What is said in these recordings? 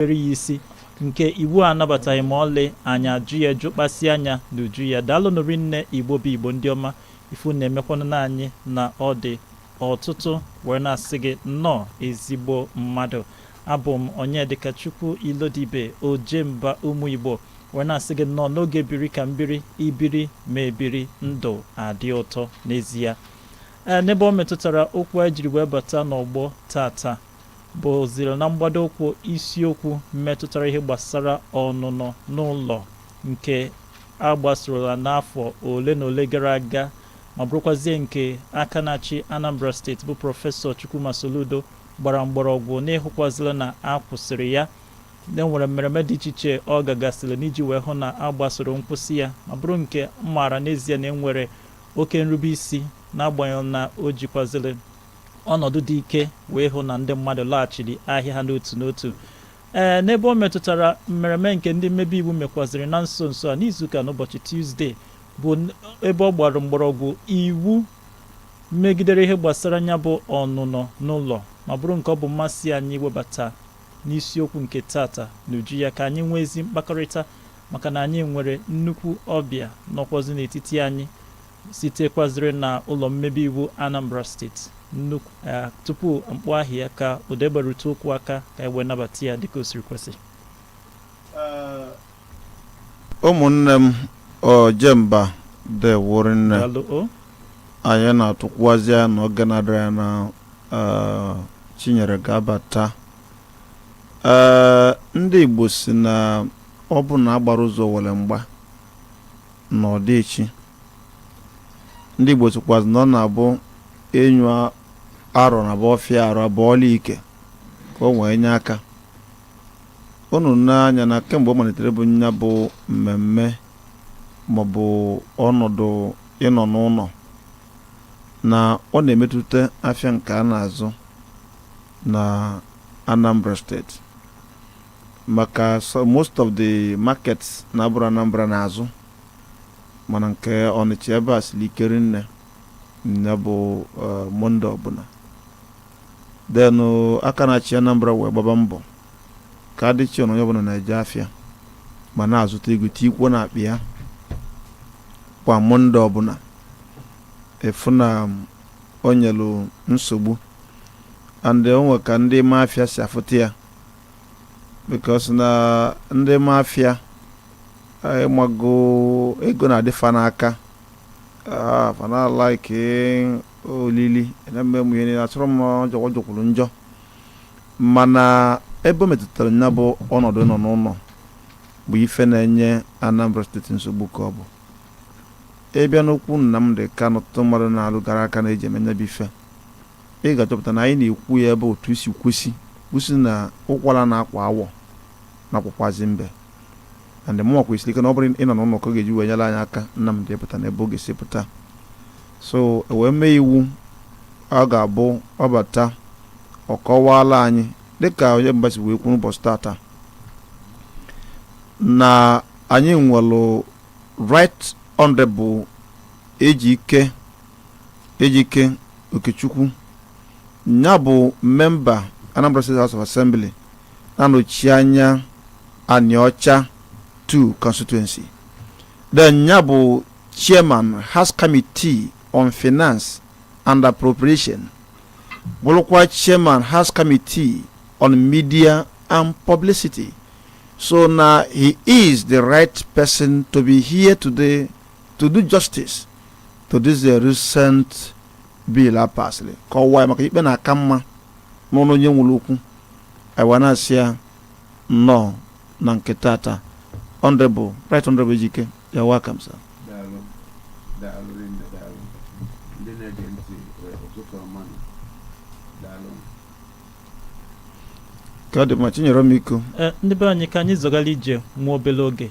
rubere ya isi nke iwu anabataghị ma ọlị anyị ajụ ya jụ kpasi anya n'uju ya daalụnụ rinne igbo bụ igbo ndị ọma ifu na-emekwanụ na anyị na ọ dị ọtụtụ wee na-asị gị nnọọ ezigbo mmadụ abụ m onyedịkachukwu ilodibe ojemba ụmụ igbo wee na-asị gị nnọọ n'oge biri ka mbiri ibiri ma ebiri ndụ adị ụtọ n'ezie ee n'ebe o metụtara okwu anyị jiri wee bata n'ọgbọ tata bụzịrị na mgbado ụkwụ isiokwu metụtara ihe gbasara ọnụnọ n'ụlọ nke a gbasorola n'afọ ole na ole gara aga ma bụrụkwazie nke aka na-achị Anambra steeti bụ prọfesọ Chukwuma Soludo gbara mgbọrọgwụ n'ịhụkwazịla na a kwụsịrị ya e nwere mmereme dị iche iche ọ gagasịrị n'iji wee hụ na a gbasoro nkwụsị ya ma bụrụ nke m maara n'ezie na e nwere oke nrubeisi n'agbanyeghị na o jikwazịrị Ọnọdụ dị ike wee hụ na ndị mmadụ laghachiri ahịa ha n'otu n'otu. Ee, n'ebe o metụtara mmereme nke ndị mmebe iwu mekwaziri na nso nso a n'izuụka n'ụbọchị Tuzde bụ ebe ọ gbara mgbọrọgwụ iwu megidere ihe gbasara ya bụ ọnụnọ n'ụlọ ma bụrụ nke ọ bụ mmasị anyị iwebata n'isiokwu nke tata n'uju ya ka anyị nwee ezi mkpakọrịta maka na anyị nwere nnukwu ọbịa nọkwazị n'etiti anyị sitekwaziri na ụlọ mmebe iwu Anambra steeti nnukwu eh, tupu m kpọọ aha ya ka ụdị gbarute ụkwụ aka ka e wee nabata ya dịka o siri kwesị eh, ụmụnne m ojemba deewo rinne anyị na-atụkwazị anya na oge na-adịghị anya na eh, chinyere ga-abata ee ndị igbo si na ọ bụrụ na a gbara ụzọ owere mgba na ọ dị echi. Ndị Igbo sịkwazị na ọ na-abụ enyu arọ na bụ ọfịa arụ abụọla ike ka o wee nye aka unu n'anya na kemgbe ọ malitere bụ nya bụ mmemme maọbụ ọnọdụ ịnọ n'ụlọ na ọ na-emetụta afịa nke a na-azụ na Anambra steeti maka most of the markets na-abụrọ Anambra na-azụ mana nke Ọnịcha ebe a siri ike rinne nya bụ eh, Monde ọbụla then oh, aka na-achị Anambra wee gbaba mbọ ka adịchi na onye ọbụla na-eje afịa ma na-azụta ego tikwuo na akpa ya kwa Monde ọbụla ị fụ na um, o nyelu nsogbu and o nwe ka ndị ụmụ afịa si afụta ya because na ndị mafia ịmago ego na-adịfa n'aka fana like olili na-eme ụmụ ihe niile achọrọ m ọ jọkwa jọkwuru njọ mana ebe o metụtara nya bụ ọnọdụ nọ n'ụnọ bụ ife na-enye Anambra State nsogbu ka ọ bụ ịbịa n'okwu Nnamdi Kanu ọtụtụ mmadụ na-alụgara aka na e ji eme nya bụ ife Ị ga-achọpụta na anyị na-ekwu ya ebe otu i si kwesi, kwusi na ụkwala na-akwa awọ na-akwakwazị mbe. And mụnwa kwesili ike na ọ bụrọ ịnọ n'ụnọ ka ọ ga-eji wee nyere anyị aka Nnamdi pụta n'ebe ọ ga-esi pụta. So e wee mee iwu ọ ga-abụ ọ bata ọ kọwaala anyị dịka onye mba si wee kwuo n'ụbọchị tata na anyị nwere right honorable Ejike Ejike Okechukwu nya bụ memba Anambra State House of Assembly na-anọchi anya Anaocha 2 constituency then nya bụ chairman House Committee on Finance and Appropriation bụrụkwa chairman House Committee on Media and Publicity so na he is the right person to be here today to do justice to this uh, recent bill a pasịrị kọwaa ya maka ikpe na-aka mma n'ọnụ onye nwere okwu anyị wee na-asị ya nnọọ na nke tata honorable right honorable Ejike you're welcome sir daalụ daalụ rinne daalụ ndị na-ege ntị eh, ụtụtụ ọma nụ. daalụ ka ọ dị mma Chinyere m iko Eh, ndị be anyị ka anyị zọgara ije nwa obere oge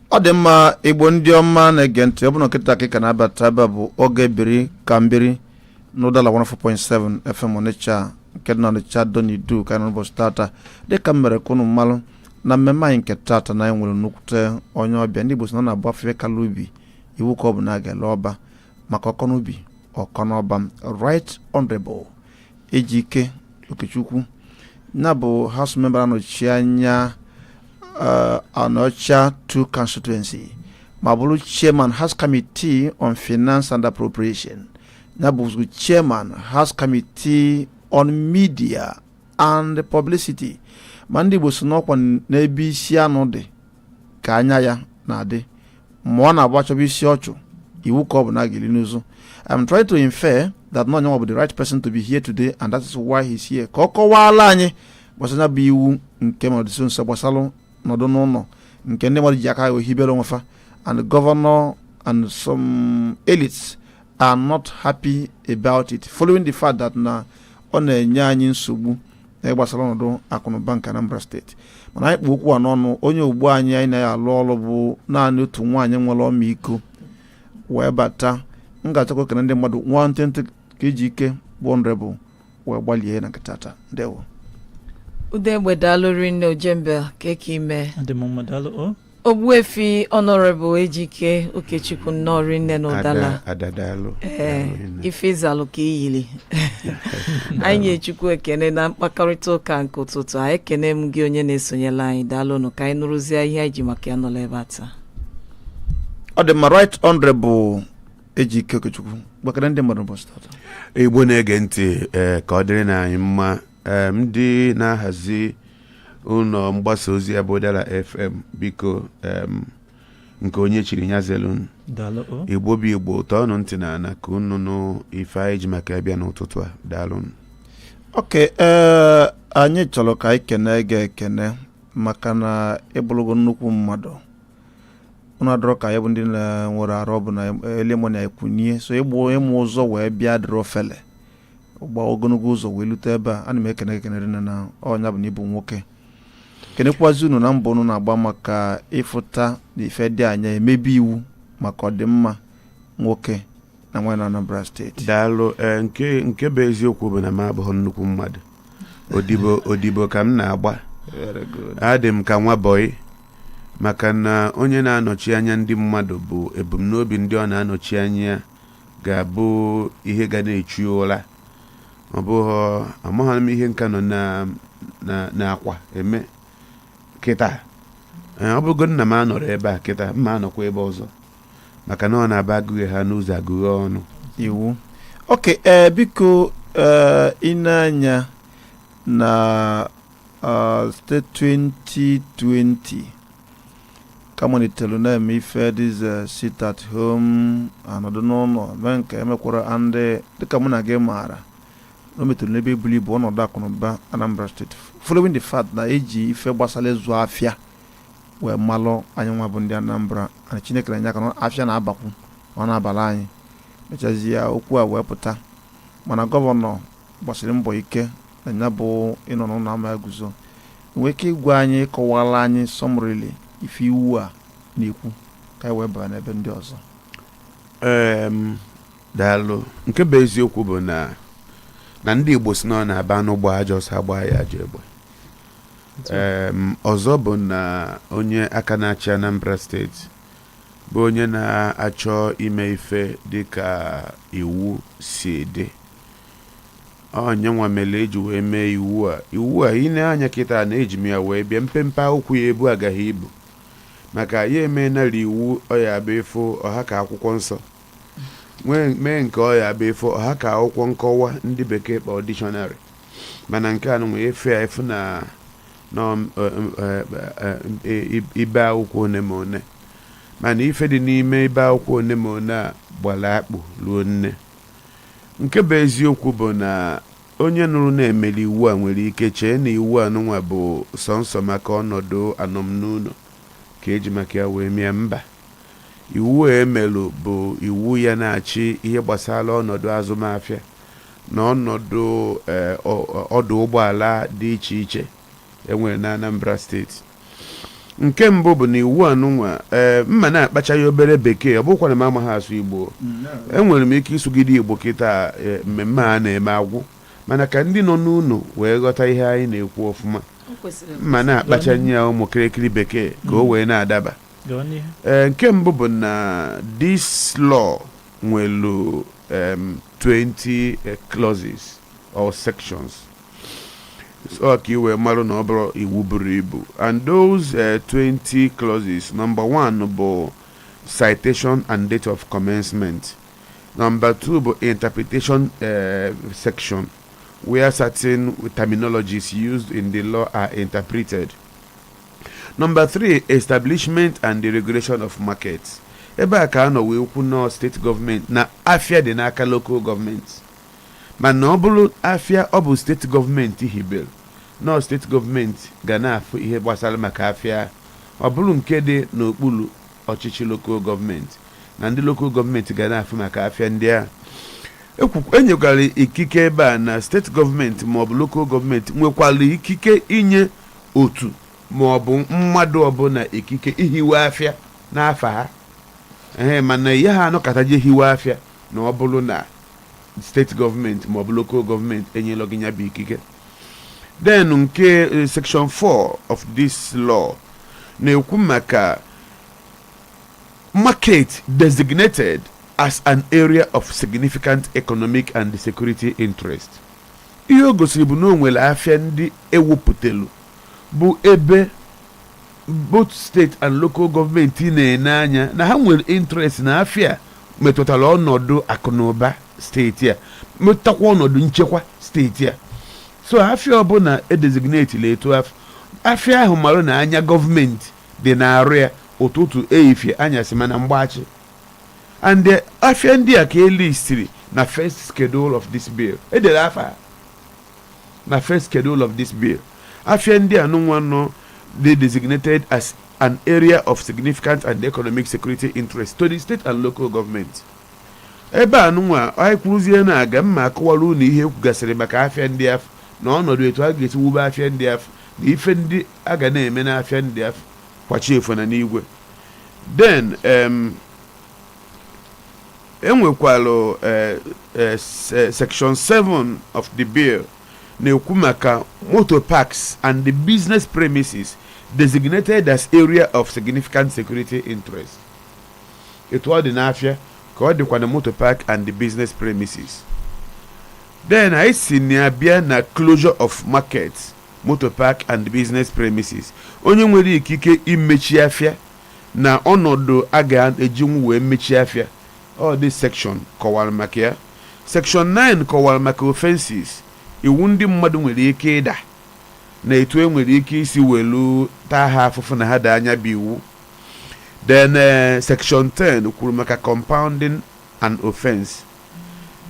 ọ dị mma igbo ndị ọma na-ege ntị ọ bụrụ na kịta ka ị ka na-abata ebe a bụ oge biri ka m biri n'Udala 104.7 FM Ọnịcha nke dị na Ọnịcha Ado n'Idu ka anyị nọ n'ụbọchị tata dịka m mere ka unu malụ na mmemme anyị nke tata na anyị nwere nnukwute onye ọbịa ndị Igbo sị na ọ na-abụ a fụ ife kalị ubi iwu ka ọ bụ na a ga-ele ọba maka ọ kọ n'ubi ọ kọ n'ọba right honorable Ejike Okechukwu nya bụ house member na-anọchi anya uh, Anaocha 2 constituency ma bụrụ chairman House Committee on Finance and Appropriation nya bụzi chairman House Committee on Media and Publicity ma ndị Igbo sị na ọ kwa n'ebe isi anụ dị ka anya ya na-adị ma ọ na-abụ a chọba isi ọchụ iwu ka ọ bụ na a ga-elu n'ụzụ I'm trying to infer that na onye nwa bụ the right person to be here today and that is why he's here ka ọ kọwaala anyị gbasara nya bụ iwu nke ma ọ dị nso nso gbasara nọdụ n'ụnọ nke ndị mmadụ ji aka ha hibere onwe fa and the governor and some elites are not happy about it following the fact that na ọ na-enye anyị nsogbu na gbasara ọnọdụ akụnụba nke Anambra steeti mana anyị kpụ okwu a n'ọnụ onye ugbu anyị anyị na ya alụ ọrụ bụ naanị otu nwaanyị nwere ọmịiko wee bata m ga-achọkwa ekene ndị mmadụ nwantịntị ka Ejike bụ Honorable wee gbalie na nkata taa ndewo Udegbe daalụ rinne Ojembe kee ka i me Adị m mma, daalụ o. Ogbuefi Honorable Ejike Okechukwu nnọọ rinne n'Udala Ada daalụ ee ife ị zalụ ka i yili anyị nye Chukwu ekene na mkpakọrịta ụka nke ụtụtụ a ekene m gị onye na-esonyela anyị daalụnụ ka anyị nụrụzie ihe anyị ji maka ya nọla ebe a taa ọ dị mma right honorable Ejike Okechukwu bịa kene ndị mmadụ ụbọchị tata Igbo na-ege ntị ee ka ọ dịrịnụ anyị mma ee ndị na-ahazi ụlọ mgbasa ozi a bụ Udala FM biko em, nke onye chiri ya zelunu daalụ o Igbo bụ Igbo tọọnụ ntị n'ana ka unu nụ ife anyị ji maka ya bịa n'ụtụtụ a daalụnụ okay ee anyị chọrọ ka anyị kene gị ekene maka na ị bụlụgo nnukwu mmadụ unu adịrọ ka anyị bụ ndị nwere ọrụ ọ bụ na early morning anyị kunie so ịma ụzọ wee bịa adịrọ ofele gba ogologo ụzọ wee lute ebe a ana m ekene gị ekene rinne na ọ nya bụ na ị bụ nwoke kenekwazi unu na mbọ unu na-agba maka ịfụta na ife dị anya emebe iwu maka ọdịmma nwoke na nwaanyị na Anambra steeti daalụ ee nke nke bụ eziokwu bụ na m abụghị nnukwu mmadụ odibo odibo ka m na-agba Very good. adị m ka nwa bọyị maka na onye na-anọchi anya ndị mmadụ bụ ebumnobi ndị ọ na-anọchi anya ya ga-abụ ihe ga na-echu ya ụra ọ bụghị amaghị m ihe m ka nọ na- na- n'akwa eme kịta Ee, ọ bụgo na m anọrọ ebe a kịta m ma anọkwa ebe ọzọ maka na ọ na-abụ agụghị ha n'ụzọ agụghị ọnụ iwu okay ee biko ee ịna-anya na uh, site 2020 ka a malitere na-eme ife this uh, sit at home anọdụ n'ụlọ mee nke emekwara and dịka mụ na gị maara na o metụrụ n'ebe o buru ibu ọnọdụ akụnụba Anambra steeti following the fact na e ji ife gbasara ịzụ afịa wee malụ anyị nwa bụ ndị Anambra na Chineke na-enye aka na afịa na-abakwu ọ na-abala anyị e mechazie okwu a wee pụta mana gọvanọ gbasiri mbọ ike na ya bụ ịnọ n'ụlọ ama ya eguzo i nwee ike ịgwa anyị kọwaala anyị summarily ife iwu a na-ekwu ka anyị wee baa n'ebe ndị ọzọ daalụ nke bụ eziokwu bụ na na ndị Igbo sị na ọ na-abụ anụ gbaa ajọ ọsọ a gbaa ya ajọ egbe ọzọ bụ na onye aka na-achị Anambra steeti bụ onye na-achọ ime ife dịka iwu si dị ọ ya nwa mere eji wee mee iwu a iwu a i nee anya kịta na eji m ya wee bịa mpempe akwụkwọ ya ebu agaghị ibu maka ya emenala iwu ọ ya-abụ ị fụ ọ ha ka akwụkwọ nsọ nwee nke ọ ya-abụ ị fụ ọ ha ka akwụkwọ nkọwa ndị bekee kpọọ dictionary mana nke anụnwa ị fụ ya ị fụ na na ọm- ọ- m- ọ- ọ- ọ- i- ibe akwụkwọ one ma one mana ife dị n'ime ibe akwụkwọ one ma one a gbara akpụ ruo nne Nke bụ eziokwu bụ na onye nụrụ na e melụ iwu a nwere ike chee na iwu anụnwa bụ sọnsọ maka ọnọdụ anọm n'ụlọ ka e ji maka ya wee mee ya. Mba. Iwu a e mere bụ iwu ya na-achị ihe gbasara ọnọdụ azụmafịa na ọnọdụ ọdụ ụgbọala dị iche iche. e nwere n'Anambra steeti nke mbụ bụ na iwu anụnwa ee eh, m ma na-akpacha ya obere bekee ọ bụkwana m amaghị asụ Igbo enwere m ike ịsụgide Igbo kịta eh, mmemme a na-eme agwụ mana ka ndị nọ n'ụlọ wee ghọta ihe anyị na-ekwu ọfụma m ma na-akpachanye ya ụmụ kịrịkịrị bekee ka o wee na-adaba ee eh, nke mbụ bụ na this law nwelu 20 clauses or sections so ka i wee marụ na ọ bụrọ iwu buru ibu and those eh, 20 clauses number one bụ citation and date of commencement number two bụ interpretation eh, section where certain terminologies used in the law are interpreted Number three, establishment and the regulation of markets. Ebe a ka a nọ wee kwu na steeti gọọmenti na afịa dị n'aka local gọọmenti. Mana ọ bụrụ afịa ọ bụ steeti gọọmenti hibere, na ọ steeti gọọmenti ga na-afụ ihe gbasara maka afịa a, ọ bụrụ nke dị n'okpuru ọchịchị lokal gọọmenti, na ndị lokal gọọmenti ga na-afụ maka afịa ndị a. E nyekwara ikike ebe a na steeti gọọmenti maọbụ lokal gọọmenti nwekwara ikike inye otu maọbụ mmadụ ọbụla ikike ihiwe afịa n'afa ha, ee mana ị yaha anọkata je hiwe afịa. na ọ bụrọ na steeti gọọmenti ma ọ bụ local gọọmenti enyela gị ya bụ ikike then nke eh, section 4 of this law na-ekwu maka market designated as an area of significant economic and security interest ihe o gosiri bụ na o nwere afịa ndị e wepụtelu bụ ebe both state and local government na-ene anya na ha nwere interest na afia metụtara ọnọdụ akụnụba steeti a metụtakwa ọnọdụ nchekwa steeti a so afia ọbụna e designatelụ etu afụ afia ahụ mara na anya government dị n'arụ ya ụtụtụ ehifie anyasị ma na mgbachi and afia ndị a ka e listiri na first schedule of this bill e dere afa ha. Na first schedule of this bill, afia ndị anụnwa nọ dị designated as an area of significant and economic security interest to the state and local government. Ebe anụnwa anyị kwuruzie na aga m akọwara unu ihe e kwugasịrị maka afịa ndị afụ na ọnọdụ etu a ga-esi wube afịa ndị afụ na ife ndị a ga na-eme n'afịa ndị afụ kwa chi efo na n'igwe then e nwekwalụ eh, eh, se- section 7 of the bill na-ekwu maka motor parks and the business premises designated as area of significant security interest etu ọ dị n'afịa ka ọ dịkwa na motor park and the business premises then anyị si na ya bịa na closure of market motor park and business premises onye nwere ikike imechi afịa na ọnọdụ a ga-ejinwu wee mechie afịa. Ọ dị Section kọwara maka ya. Section nine kọwara maka offences, iwu ndị mmadụ nwere ike ịda na etu e nwere ike isi welu taa ha afụfụ na ha daa nya bụ iwu. Then Section ten kwuru maka compounding an offence.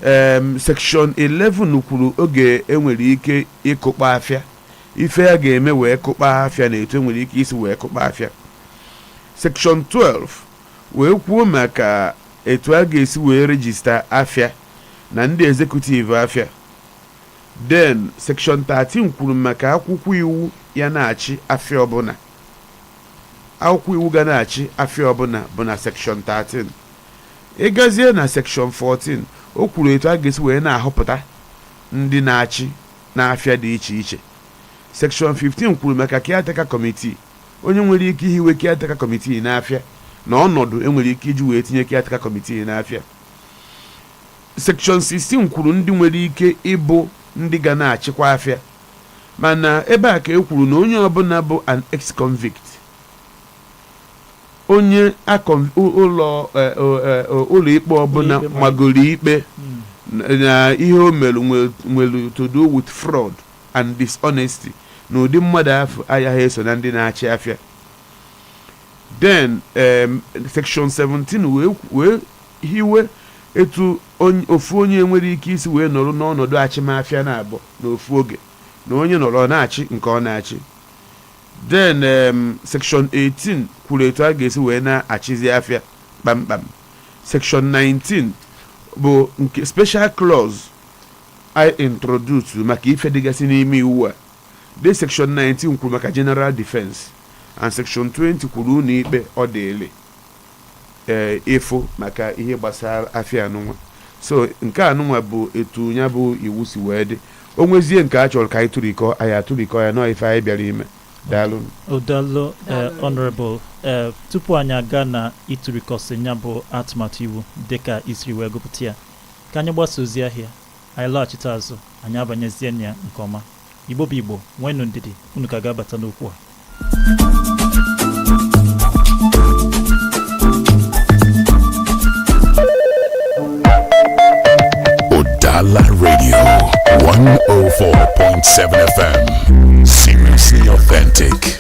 um Section eleven kwuru oge e nwere ike ịkụkpọ afịa. Ife a ga-eme wee kụkpọ afịa na etu e nwere ike isi wee kụkpọ afịa. Section 12 wee kwuo maka etu a ga-esi wee register afịa na ndị executive afịa. Then Section 13 kwuru maka akwụkwọ iwu ya na-achị afịa ọbụla. Akwụkwọ iwu ga na-achị afịa ọbụna bụ na Section 13. Ị gazie na Section 14, o kwuru etu a ga-esi wee na-ahọpụta ndị na-achị n'afịa dị iche iche. Section 15 kwuru maka caretaker committee, onye nwere ike ihiwe caretaker committee n'afịa na ọnọdụ e nwere ike iji wee tinye caretaker committee n'afịa. Section 16 kwuru ndị nwere ike ịbụ ndị ga na-achịkwa afịa mana ebe a ka e kwuru na onye ọbụna bụ an ex-convict onye akọ ụlọ eh, eh, eh, ụlọikpe ọbụna Ụlọikpe ma- magoro ikpe Mm. na ihe o mere nwe- nwere to do with fraud and dishonesty na ụdị mmadụ afụ ayaghị eso na ndị na-achị afịa then em, section 17 wee kwu- wee hiwe etu onye- ofu onye nwere ike isi wee nọrọ n'ọnọdụ achịm afịa naabọ n'ofu oge na onye nọrọ ọ na-achị nke ọ na-achị Then um, section 18 kwuru etu a ga-esi wee na-achịzi afịa kpamkpam section 19 bụ nke special clause I introduce maka ife dịgasị n'ime iwu a the section 19 kwuru maka general defense and section 20 kwuru ụlọ ikpe ọ dịịlị ee ịfụ maka ihe gbasara afịa anụnwa so nke anụnwa bụ etu ya bụ iwu si wee dị o nwezie nke a chọrọ ka anyị tụrikọ anyị atụrikọ ya nọ ife anyị bịara ime daalụ O daalụ eh, Honorable eh, tupu anyị aga na ịtụrịkọsị ya bụ atụmatụ iwu dịka i siri wee gụpụta ya ka anyị gbasa ozi ahịa anyị laghachite azụ anyị abanyezie na ya nke ọma Igbo bụ Igbo, nweenụ ndidi, unu ka ga-abata n'okwu a. Udala Radio 104.7 FM. Seriously authentic.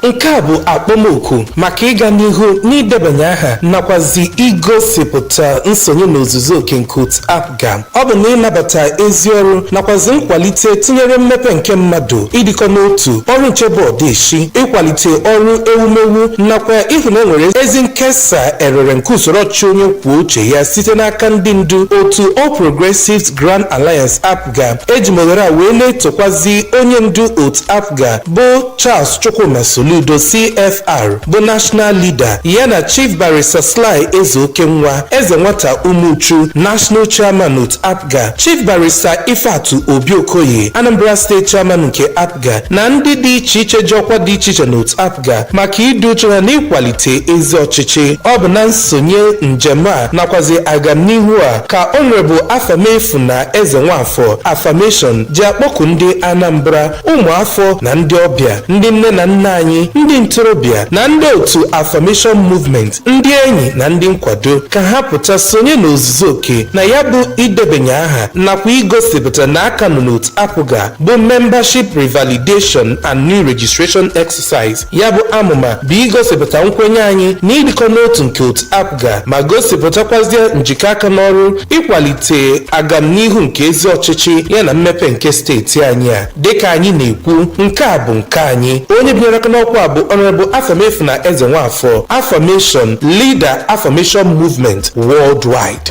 nke a bụ akpọmoku maka ịga n'ihu n'idebanye aha nakwazi igosipụta nsonye n'ozuzu oke nke otu apga ọ bụ na ịnabata ezi ọrụ nakwazi nkwalite tinyere mmepe nke mmadụ ịdịkọ n'otu ọrụ nche bụ ọdeshi ịkwalite ọrụ ewumewu nakwa ịhụ na e nwere ezi nkesa erere nke usoro ọchịchị onye kwuo uche ya site n'aka ndị ndu otu All Progressives Grand Alliance ga eji m ohere a wee na-etokwazi onye ndu otu apga bụ charles chukwuma soludo cfr bụ national leader ya na chief barrister sly ezeokenwa eze nwata umuchu national chairman otu apga chief barrister ifeatu obi-okoye anambra state chairman nke apga APGA na ndị dị iche iche ji ọkwa dị iche iche n'otu APGA maka ịdị uchu ha n'ịkwalite ezi ọchịchị. Ọ bụ na nsonye njem a nakwazi agamnihu a ka Honourable Afamefuna Ezenwafor, Afamation, ji akpọku ndị Anambra, ụmụafọ na ndị ọbịa, ndị nne na nna anyị, ndị ntorobịa na ndị otu Afamation Movement, ndị enyi na ndị nkwado ka ha pụta sonye n'ozuzu oke na ya bụ idebanye aha nakwa igosipụta na a ka nọ n'otu APGA bụ membership revalidation and new registration exercise ya bụ amụma bụ igosipụta nkwenye anyị na ịdịkọ n'otu nke otu apga ma gosipụtakwazie njikọ aka n'ọrụ ịkwalite agamnihu nke ezi ọchịchị ya na mmepe nke steeti anyị a dịka anyị na-ekwu nke a bụ nke anyị onye binyere aka n'ọkwa a bụ honourable afamefuna ezenwafor afamation leader afamation movement worldwide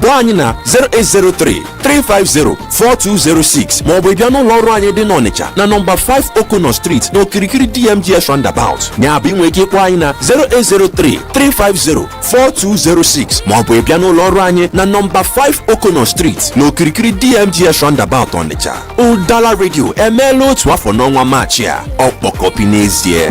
kpọọ anyị na 0803 350 4206 maọbụ ị bịa n'ụlọ ọrụ anyị dị n'Ọnịcha na nọmba 5 Okono Street n'okirikiri DMGS Roundabout ya bụ i nwere ike ịkpọ anyị na 0803 350 4206 maọbụ ịbịa n'ụlọ ọrụ anyị na nọmba 5 Okono Street n'okirikiri DMGS Roundabout Ọnịcha Udala Radio emeela otu afọ n'ọnwa Maachị a ọkpọkọpi n'ezie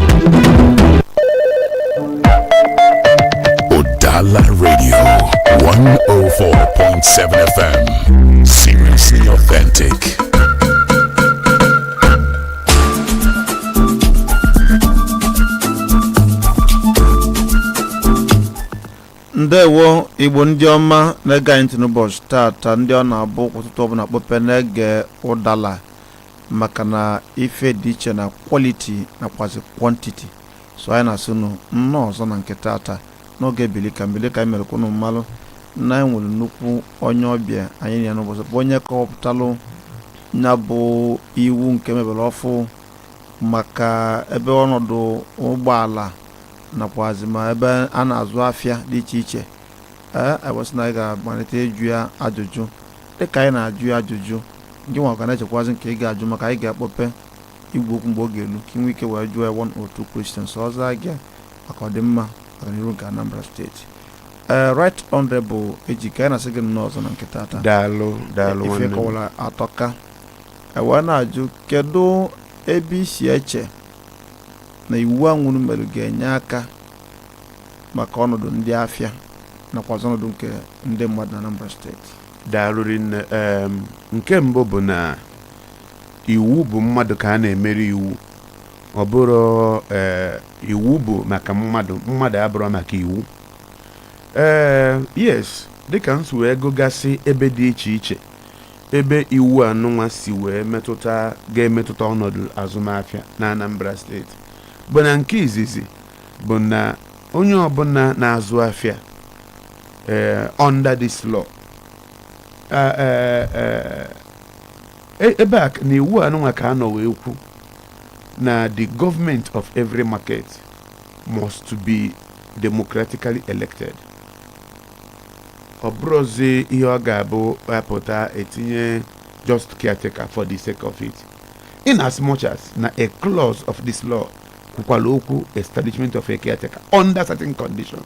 Udala Radio 104.7 FM. Seriously authentic. ndewo Igbo ndị ọma na-ege anyị ntị n'ụbọchị taata ndị ọ na-abụ ụtụtụ ọbụla kpọpe na-ege Udala maka na ife dị iche na quality nakwazi quantity so anyị na-asị unu nnọọ ọzọ na nke taata n'oge bili ka m bili dịka anyị mere ka unu malụ na anyị nwere nnukwu onye ọbịa anyị na ya n'ụbọchị bụ onye kọwapụtalụ ya bụ iwu nke e mebere ọfụụ maka ebe ọnọdụ ụgbọala nakwazi ma ebe a na-azụ afịa dị iche iche ee e wee sị na anyị ga-amalite ịjụ ya ajụjụ dịka anyị na-ajụ ya ajụjụ gị nwa ga na-echekwazi nke ị ga-ajụ maka anyị ga-akpọpe igwe okwu mgbe ọ ga-elu ka i nwee ike wee jụọ ya one or two questions ọzọ aga maka ọdịmma ọganihu nke Anambra steeti ee Right Honorable Ejike anyị na-asị gị nnọọ ọzọ na nke taata daalụ daalụ ife nwanne m. kọwara atọka e wee na-ajụ kedu ebe i si eche na iwu anwa unu mere ga-enye aka maka ọnọdụ ndị afịa nakwazi ọnọdụ nke ndị mmadụ na Anambra steeti daalụ rinne em nke mbụ bụ na iwu bụ mmadụ ka a na-emere iwu ọ bụrọ ee iwu bụ maka mmadụ mmadụ abụrọ maka iwu ee yes dịka m si wee gụgasị ebe dị iche iche ebe iwu anụnwa si wee metụta ga-emetụta ọnọdụ azụmahịa na Anambra steeti bụ na nke izizi bụ na onye ọbụla na-azụ afịa eh, under this law Eh, eh, eh, e- ebe a na iwu anụnwa ka a nọ wee kwu na the government of every market must be democratically elected ọ bụrọzi ihe ọ ga-abụ a pụta e tinye just caretaker for the sake of it in as much as na a clause of this law kwukwala okwu establishment of a caretaker under certain conditions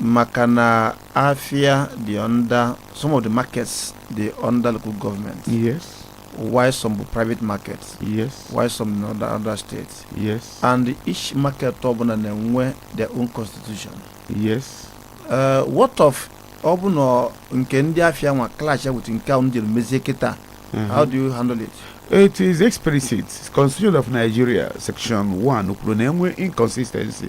maka na afia dị under some of the markets dị under local government yes while some bụ private market yes while some na under, under state yes and each market ọbụna na-enwe their own constitution yes uh, what of ọ bụ na nke ndị afia nwa clashia with nke ụnụ jere mezie kịta how do you handle it It is explicit. Constitution of Nigeria, Section 1, kwuru na enwe inconsistency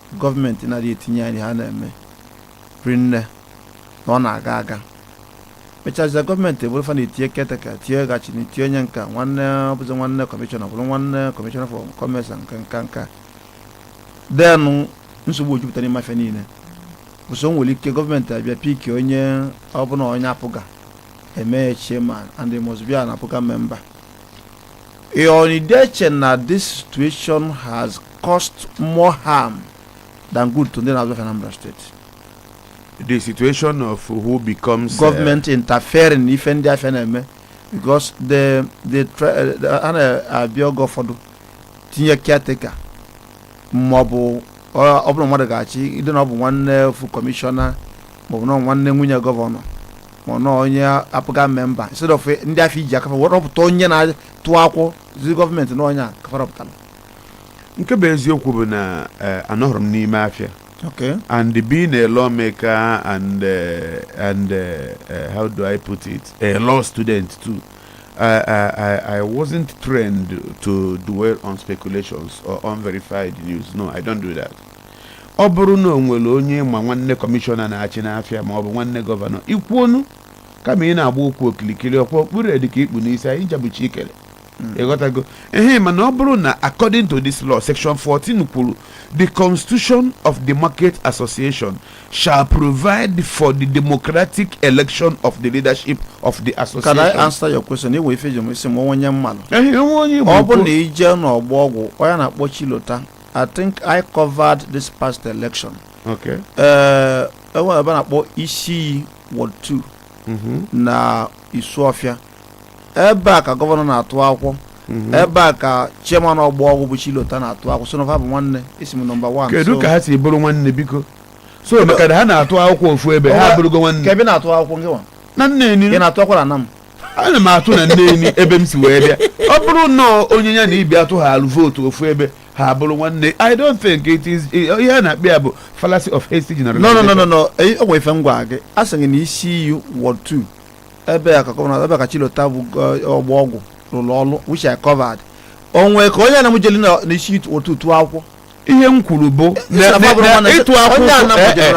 gọọmenti na-adị etinye anya n'ihe a na-eme rinne na ọ na-aga aga mechazia gọọmenti abụrụ fa na-etinye caretaker tinye ga-achịnị tinye onye nka nwanne ọbụzi nwanne kọmishọna bụrụ nwanne kọmishọna for commerce nke nka nka then nsogbu ejupụta n'ime afịa niine so o nwere ike gọọmenti abịa pick onye ọbụna onye APGA eme chairman and must be an APGA member Ọ na ị dị eche na this situation has caused more harm than good to ndị na-azụ afịa Anambra steeti. the situation of who becomes uh, Government interfering n'ife ndị afịa na-eme because the the tra- eh, the- a na-abịa oge ụfọdụ tinye caretaker maọbụ ọ ọ bụrụ mmadụ ga-achị ịdị na ọ bụ nwanne ofu kọmishọna maọbụ na ọ bụ nwanne nwunye gọvanọ ma ọ na ọ onye APGA member instead of ndị afịa iji aka fa wee rọpụta onye na-atụ akwụkwọ zi gọọmenti na onye a ka fa rọpụtara nke bụ eziokwu bụ na eh, anọhụrụ m n'ime afịa okay and being a lawmaker and uh, and uh, uh, how do I put it, a law student too. I, I, I- I wasn't trained to dwell on speculations or unverified news. No, I don't do that. ọ bụrụ na o nwere onye ị ma nwanne kọmishọna na-achị n'afịa ma ọ bụ nwanne gọvanọ ị kwuonụ kama ị na-agba okwu okilikili ọkwa okpuru dị ka ikpu n'isi anyị jabuchi ikele ịghọtago ehe mana ọ bụrụ na according to this law section 14 kwuru the constitution of the market association shall provide for the democratic election of the leadership of the Can I association answer your question? Ị nwere ife jụọ m ị sị m o nwe onye m malụ. ehe o nwe onye Igbo ọ bụ kwuo- na i je n'ọgbọ ọgwụ onye a na-akpọ Chilota I think I covered this past election. Okay. Uh, enwere ebe a na-akpọ isi iyi ward 2 Mhm. na Isuọfịa. Ebe a ka gọvanọ na-atụ akwụkwọ. Mhm. Ebe a ka chairman ọgbọ ọgwụ bụ Chilota na-atụ akwụkwọ. So na fa bụ nwanne isi m nọmba 1. kedu ka ha si bụrụ nwanne biko so maka na ha na-atụ akwụkwọ ofu ebe ha Ọwa- abụrụgo nwanne Kee ebe ị na-atụ akwụkwọ ngị nwa. na Neni ị na-atụ akwụkwọ na Anam. ana m atụ na Neni ebe m si wee bịa ọ bụrụ na onye ya na ibe ya tụhaalụ vootu ofu ebe ha bụrụ nwanne i don't think it is ihe a na-akpọ ya bụ fallacy of hasty no no no generalization no no Eh, o nwere ife m gwara gị a sị gị na isi iyi ward 2 ebe a ka gọvanọ ebe a ka Chilota bụ gọ- ọgbọ ọgwụ rụrụ ọrụ which I covered o nwe ka onye Anam jeli na na isi iyi ward 2 tụọ akwụkwọ ihe m kwuru bụ ịtụ akwụkwọ eh, eh.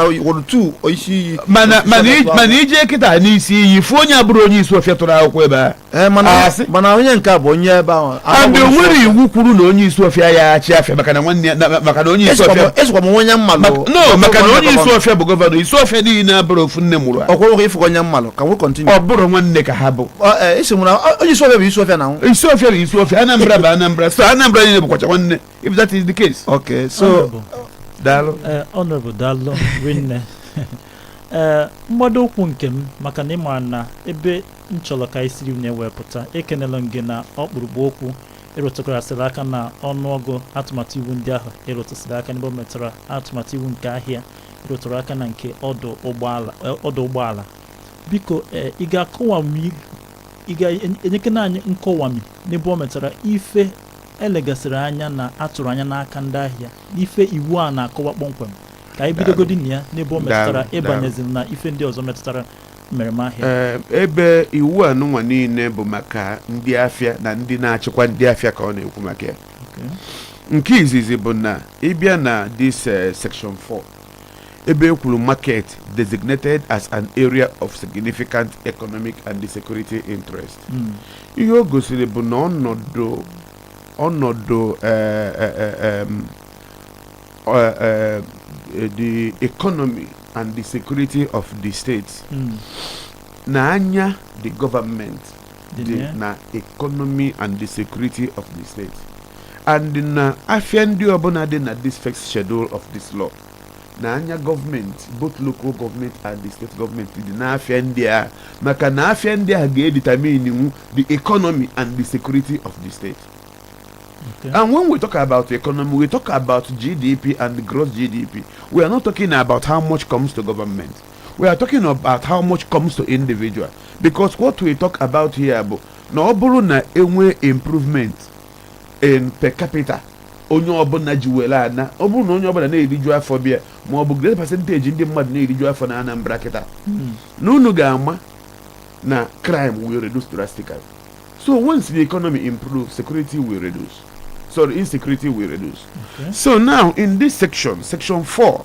mana i jee kịta n'isi iyi fụ onye abụrụ onye Isuofia tụrụ akwụkwọ ebe a eh, mana onye nke a bụ onye ebe ahụ and o nwere iwu kwuru na onye Isuofia ya-achị afịa maka na nwanne ya maka na onye Isuofia esokwa m onye m malụ no maka na onye Isuofia bụ gọvanọ Isuofia niile abụrụ ofu nne mụrụ a ọkwụrụ ịfụ onye m malụ ka m wee continue ọ bụrụ nwanne ka ha bụ onye Isuofia bụ Isuofia na Isuofia bụ Isuofia Anambra bụ Anambra so Anambra niile bụkwacha nwanne if that is the case okay so Honorable, daalụ eh, Honorable daalụ rinne ee mgbado ụkwụ nke m maka na ị ma na ebe m chọrọ ka anyị siri na-ewepụta ekenela m gị na ọkpụrụkpụ okwu ị rụtụgarasịrị aka na ọnụọgụ atụmatụ iwu ndị ahụ ị rụtụsịrị aka n'ebe o metụtara atụmatụ iwu nke ahịa ị rụtụrụ aka na nke ọdụ ụgbọala eh, ọdụ ụgbọala biko eh, ị ga-akọwami ị ga-enyekena anyị nkọwami n'ebe o metụtara ife e legasịrị anya na a tụrụ anya n'aka ndị ahịa n'ife iwu a na-akọwa kpọmkwem ka anyị bidogodi na ya n'ebe o metụtara Daalụ, daalụ. ị banyeziri na ife ndị ọzọ metụtara mmereme ahịa Ee, ebe iwu anụnwa niile bụ maka ndị afịa na ndị na-achịkwa ndị afịa ka ọ na-ekwu maka ya Okay. nke izizi bụ na ị bịa na this eh, section 4 ebe e kwuru market designated as an area of significant economic and security interest ihe o gosiri bụ na ọnọdụ ọnọdụ eh, eh, eh, em, eh, eh, eh, the economy and the security of the state na anya the government dị dị na ya. na economy and the security of the state and na afịa ndị ọbụla dị na this first schedule of this law na anya government both local government and the state government dị n'afịa ndị a maka na afịa ndị a ga-edetermine nwu the economy and the security of the state Okay. and when we talk about economy we talk about GDP and gross GDP we are not talking about how much comes to government we are talking about how much comes to individual because what we talk about here bụ na ọ bụrụ na e nwee improvement in per capita onye ọbụla ji were ana ọ bụrụ na onye ọbụla na-eriju afọ bịa ma ọ bụ great percentage ndị mmadụ na-eriju afọ na Anambra kịta hmm. na unu ga-ama na crime will reduce drastically so once the economy improves security will reduce sorry insecurity will reduce okay. so now in this section section 4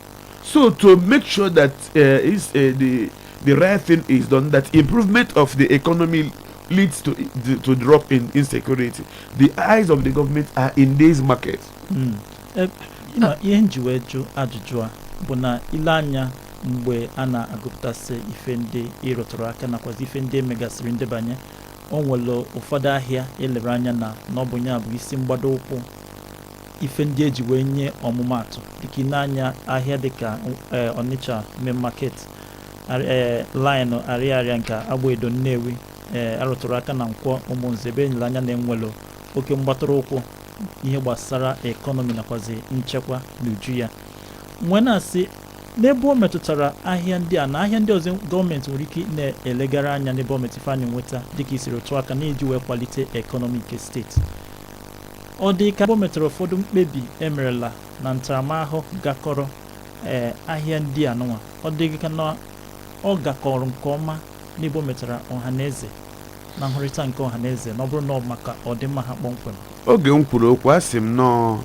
So to make sure that uh, is uh, the the right thing is done, that improvement of the economy leads to the, to drop in insecurity. The eyes of the government are in these markets. Mm. Eh, you know, ihe m ji wee jụ ajụjụ a bụ na i lee anya mgbe a na-agụpụtasị ife ndị ị rụtụrụ aka nakwazi ife ndị e megasịrị ndebanye o nwere ụfọdụ ahịa e lere anya na na ọ bụ ya bụ isi mgbado ụkwụ ife ndị eji wee nye ọmụmaatụ dịka ịne anya ahịa dịka ee Onitsha main market ee laịnụ arịarịa nke Agbaedo Nnewi ee arụtụrụ aka na Nkwọ Ụmụnze ebe enyere anya na enwelo oke mgbatụrụ ụkwụ ihe gbasara ekọnọmi nakwazi nchekwa n'uju ya nwee na-asị n'ebe o metụtara ahịa ndị a na ahịa ndị ọzọ gọọmenti nwere ike na-elegara anya n'ebe o metụtara ife anyị nweta dịka isiri otu aka na-eji wee kwalite ekọnọmi nke steeti Ọ dị ka o metụrụ ụfọdụ mkpebi emerela na ntaramahụhụ gakọrọ ee ahịa ndị a nụnwa ọ dị ka na ọ gakọrọ nke ọma n'ebe o metara ọha na eze na nhụrịta nke ọha na eze na ọ bụrụ na ọ maka ọdịmma ha kpọmkwem oge m kwuru okwu asị m na ọọ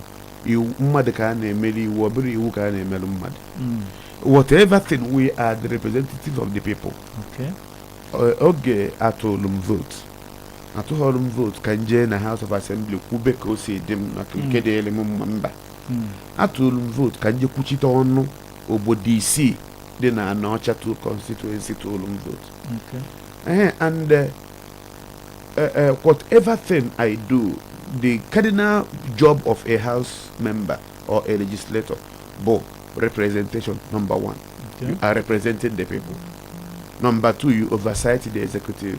mmadụ ka a na-emere iwu ọ bụrọ iwu ka a na-emere mmadụ Mm, whatever thing we are the representatives of the people okay. Ọ- oge atụlụ m vote atụghọrọ m vote ka m jee na House of Assembly kwube ka o si dị m maka nke hmm. dịrị m mma mba hmm. atụrụ m vote ka m jee kwuchite ọnụ obodo isii dị na Anaocha two constituency tụrụ m vote ee and eh, eh, eh, whatever thing I do the cardinal job of a house member or a legislator bụ representation number one okay. you are representing the people number two you oversight the executive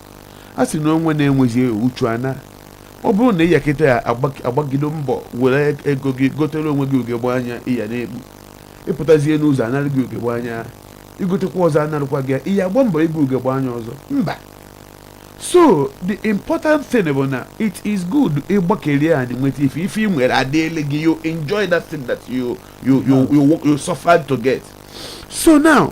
a sị na onwe na-enwezi uchu ana ọ bụrụ na ị ya kịta agbak- agbagido mbọ were ego gị gotere onwe gị ugegbe anya ị ya na-ekpu ị pụtazie n'ụzọ a nara gị ugegbe anya i gotekwa ọzọ a narụkwa gị ya ị ya agba mbọ ibu ugegbe anya ọzọ mba so the important thing bụ na it is good ị gbakeri anyị nweta ife ife ị nwere adịele gị you enjoy that thing that you you you you, work- you suffered to get so now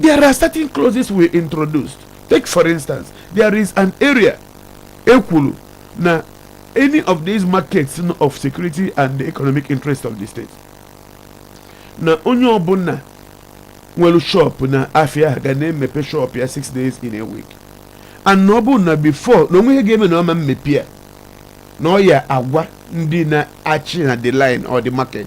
there are certain clauses we introduced take for instance there is an area e kwuru na any of these markets of security and the economic interest of the state na onye ọbụla nwere shop na afia ahụ ga na-emepe shop ya 6 days in a week and na ọ bụrụ na before na o nwe ihe ga-eme na ọ ma mmepe ya na ọ ya agwa ndị na-achị na the line or the market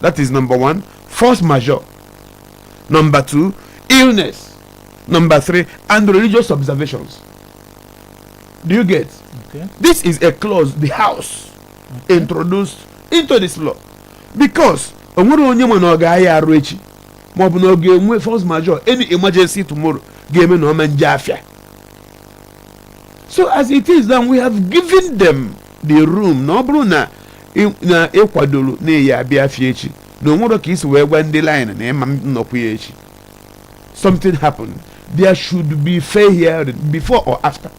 that is number one force majeure number two illness number three and religious observations do you get Okay. this is a clause the house introduced into this law because o nwere onye ma na ọ ga-aya arụ echi ma ọ bụ na ọ ga-enwe force majeure any emergency tomorrow ga-eme na ọ ma nje afịa so as it is now we have given them the room na ọ bụrụ na na ịkwadoro na ị ya-abịa afịa echi na onwere ka isi wee gwa ndị line na ị ma-anọkwu ya echi something happened there should be fair hearing before or after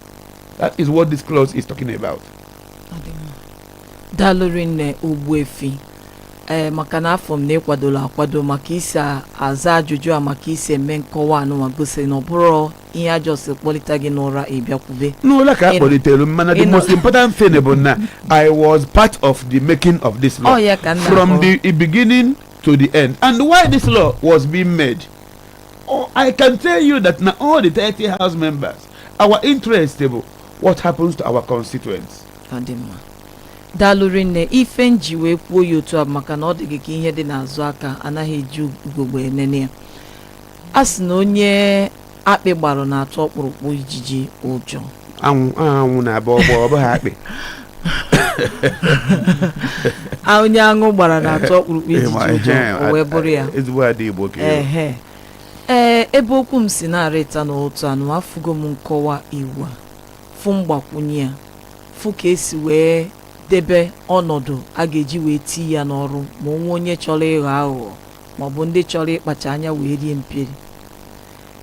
that is what this clause is talking about daalụ rinne ogbuefi ee maka na afụ m na ịkwadola akwado ma ka i si aza ajụjụ a ma ka i si eme nkọwa anụnwa gosi na ọ bụrọ ihe a just kpọlite gị n'ụra ị bịa kwube n'ụla ka a Ị- kpọlitere m mana the ị nọ- most important thing bụ na i was part of the making of this law ọ ya ka m na from akọrọ. the beginning to the end and why this law was being made oh, i can tell you that na all the 30 house members our interest bụ what happens to our constituents ọ dị mma daalụ rinne ife m ji wee kwuo ya otu a bụ maka na ọ dị gị ka ihe dị n'azụ aka anaghị eji ugogbe enene ya a sị na onye akpị gbara na-atụ ọkpụrụkpụ ijiji ụjọ anwụ ahụ anwụ na-agba ọgbọ ọ bụghị akpị a onye aṅụ gbara na-atụ ọkpụrụkpụ ijiji Ịma, ụjọ ehe, o wee bụrụ ya ezigbo ada igbo ka ịbụ. ehe ee ebe okwu m si na-arịta n'otu anụ afụgo m nkọwa iwu a fụ mgbakwunye ya fụ ka esi wee debe ọnọdụ a ga-eji wee tii ya n'ọrụ ma o nwee onye chọrọ ịghọ aghụghọ ma ọ bụ ndị chọrọ ịkpacha anya wee rie mperi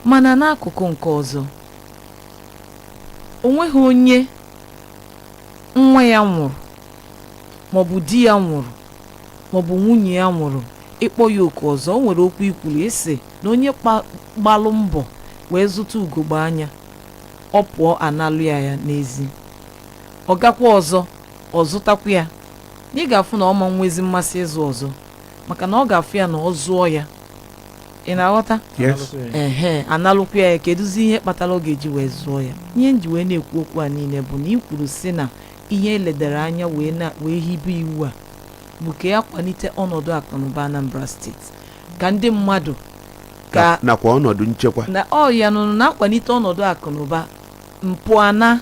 mana n'akụkụ nke ọzọ o nweghị onye nwa ya nwụrụ maọbụ di ya nwụrụ maọbụ nwunye ya nwụrụ ịkpọ ya oku ọzọ o nwere okwu i kwuru ịsị na onye kpa- gbalụ mbọ wee zụta ugogbe anya ọ pụọ a nalụ ya ya n'ezi ọ gakwa ọzọ ọ zụtakwa ya na ị ga-afụ na ọ ma nwezi mmasị ịzụ ọzọ maka na ọ ga-afụ ya na ọ zụọ ya ị na-aghọta yes ehe a nalụkwa ya kedụzi ihe kpatara ọ ga-eji wee zụọ ya ihe m ji wee na-ekwu okwu a niile bụ na i kwuru sị na ihe eledara anya wee na wee hibe iwu a bụ ka ya kwalite ọnọdụ akụnụba Anambra steeti ka ndị mmadụ ka Na- nakwa ọnọdụ nchekwa na ọ ya nụrụ na-akwalite ọnọdụ akụnụba m pụa na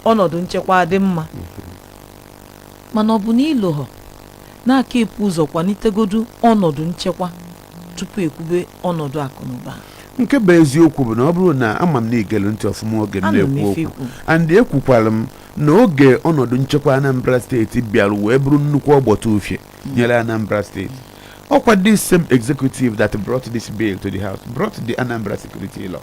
ọnọdụ nchekwa dị mma mana ọ bụ na i loho na a ka-epu ụzọ kwalitegodu ọnọdụ nchekwa tupu ekwube ọnọdụ akụnụba nke bụ eziokwu bụ na ọ bụrụ na ama m na i gelu ntị ọfụma oge m Anụ m na-ekwu ife okwu i kwu. and ekwukwara m na oge ọnọdụ nchekwa Anambra steeti bịara wee bụrụ nnukwu ọgbata ufie nyere Anambra steeti ọkwa this same executive that brought this bill to the house brought the Anambra security law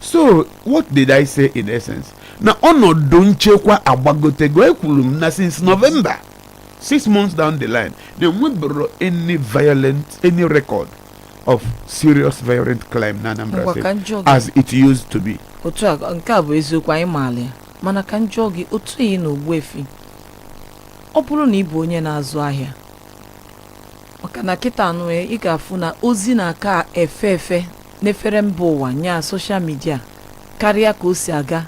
so what did i say in essence na ọnọdụ nchekwa agbagotego ekwuru m na since november six months down the line na enwebero any violent any record of serious violent crime na anambra state as it used to be otu a nke a bụ eziokwu anyị maala ya mana ka m jụọ gị otu ihe na ogbuefi ọ bụrụ na ị bụ onye na-azụ ahịa maka na kịta nwa ị ga-afụ na ozi na-aka efe efe n'efere mba ụwa nya soshal midia karịa ka o si aga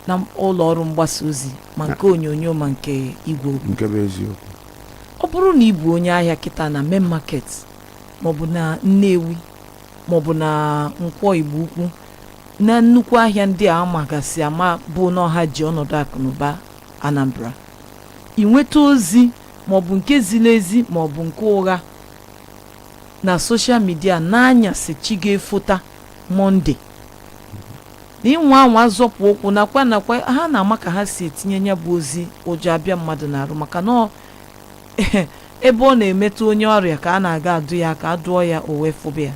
na ụlọ ọrụ mgbasa ozi ma nke onyonyo ma nke igwe okwu nke bụ eziokwu ọ bụrụ na ị bụ onye ahịa kịta na main market maọbụ na nnewi maọbụ na nkwọ igbo ukwu na nnukwu ahịa ndị a magasị ama bụ na ọ ha ji ọnọdụ akụnụba anambra ị nweta ozi maọbụ nke ziri ezi maọbụ nke ụgha na soshal midia n'anyasị chi ga-efota Mọnde na ịnwa anwa zọpụ ụkwụ nakwa nakwa ha na-ama ka ha si etinye ya bụ ozi ụjọ abịa mmadụ n'arụ maka na ọ ebe ọ na-emetụ onye ọrịa ka a na-aga adụ ya aka a dụọ ya o wee fụba ya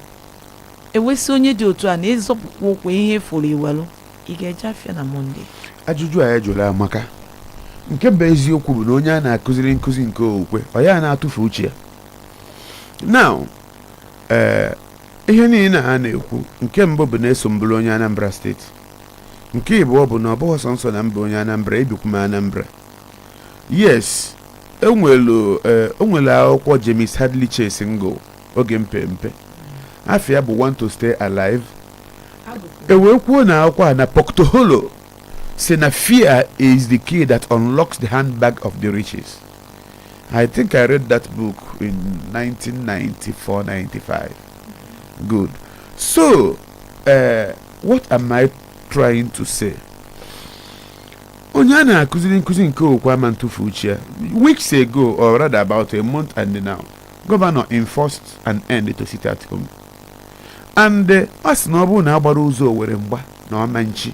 e wee sị onye dị otu a na ịzọpụkwa ụkwụ ihe ị fụrụ i welu ị ga-eje afịa na Mọnde ajụjụ a ị jụrụ amaka nke bụ eziokwu bụ na onye a na-akụziri nkụzi nke okwukwe ọ ya na-atụfu uche ya now ee ihe niile a na-ekwu nke mbụ bụ na eso m bụrụ onye anambra steeti nke ịbụọ bụ na ọ bụghị sọọsọ na m bụ onye anambra ebikwu m anambra yes enwelu ee o nwere akwụkwọ james hadley chase m gụrụ oge m pe mpe afa ya bụ want to stay alive e wee kwuo na akwụkwọ a na poke toholo si na fear is the key that unlocks the handbag of the riches I think I read that book in 1994 95. Good. So, uh, what am I trying to say? onye a na-akụziri nkụzi nke okwukwe ama ntụfu uche ya weeks ago or rather about a month and now gọvanọ enforced an end to sit at home and a sị na ọ bụrụ na a gbara ụzọ owere mgba na ọ ma nchi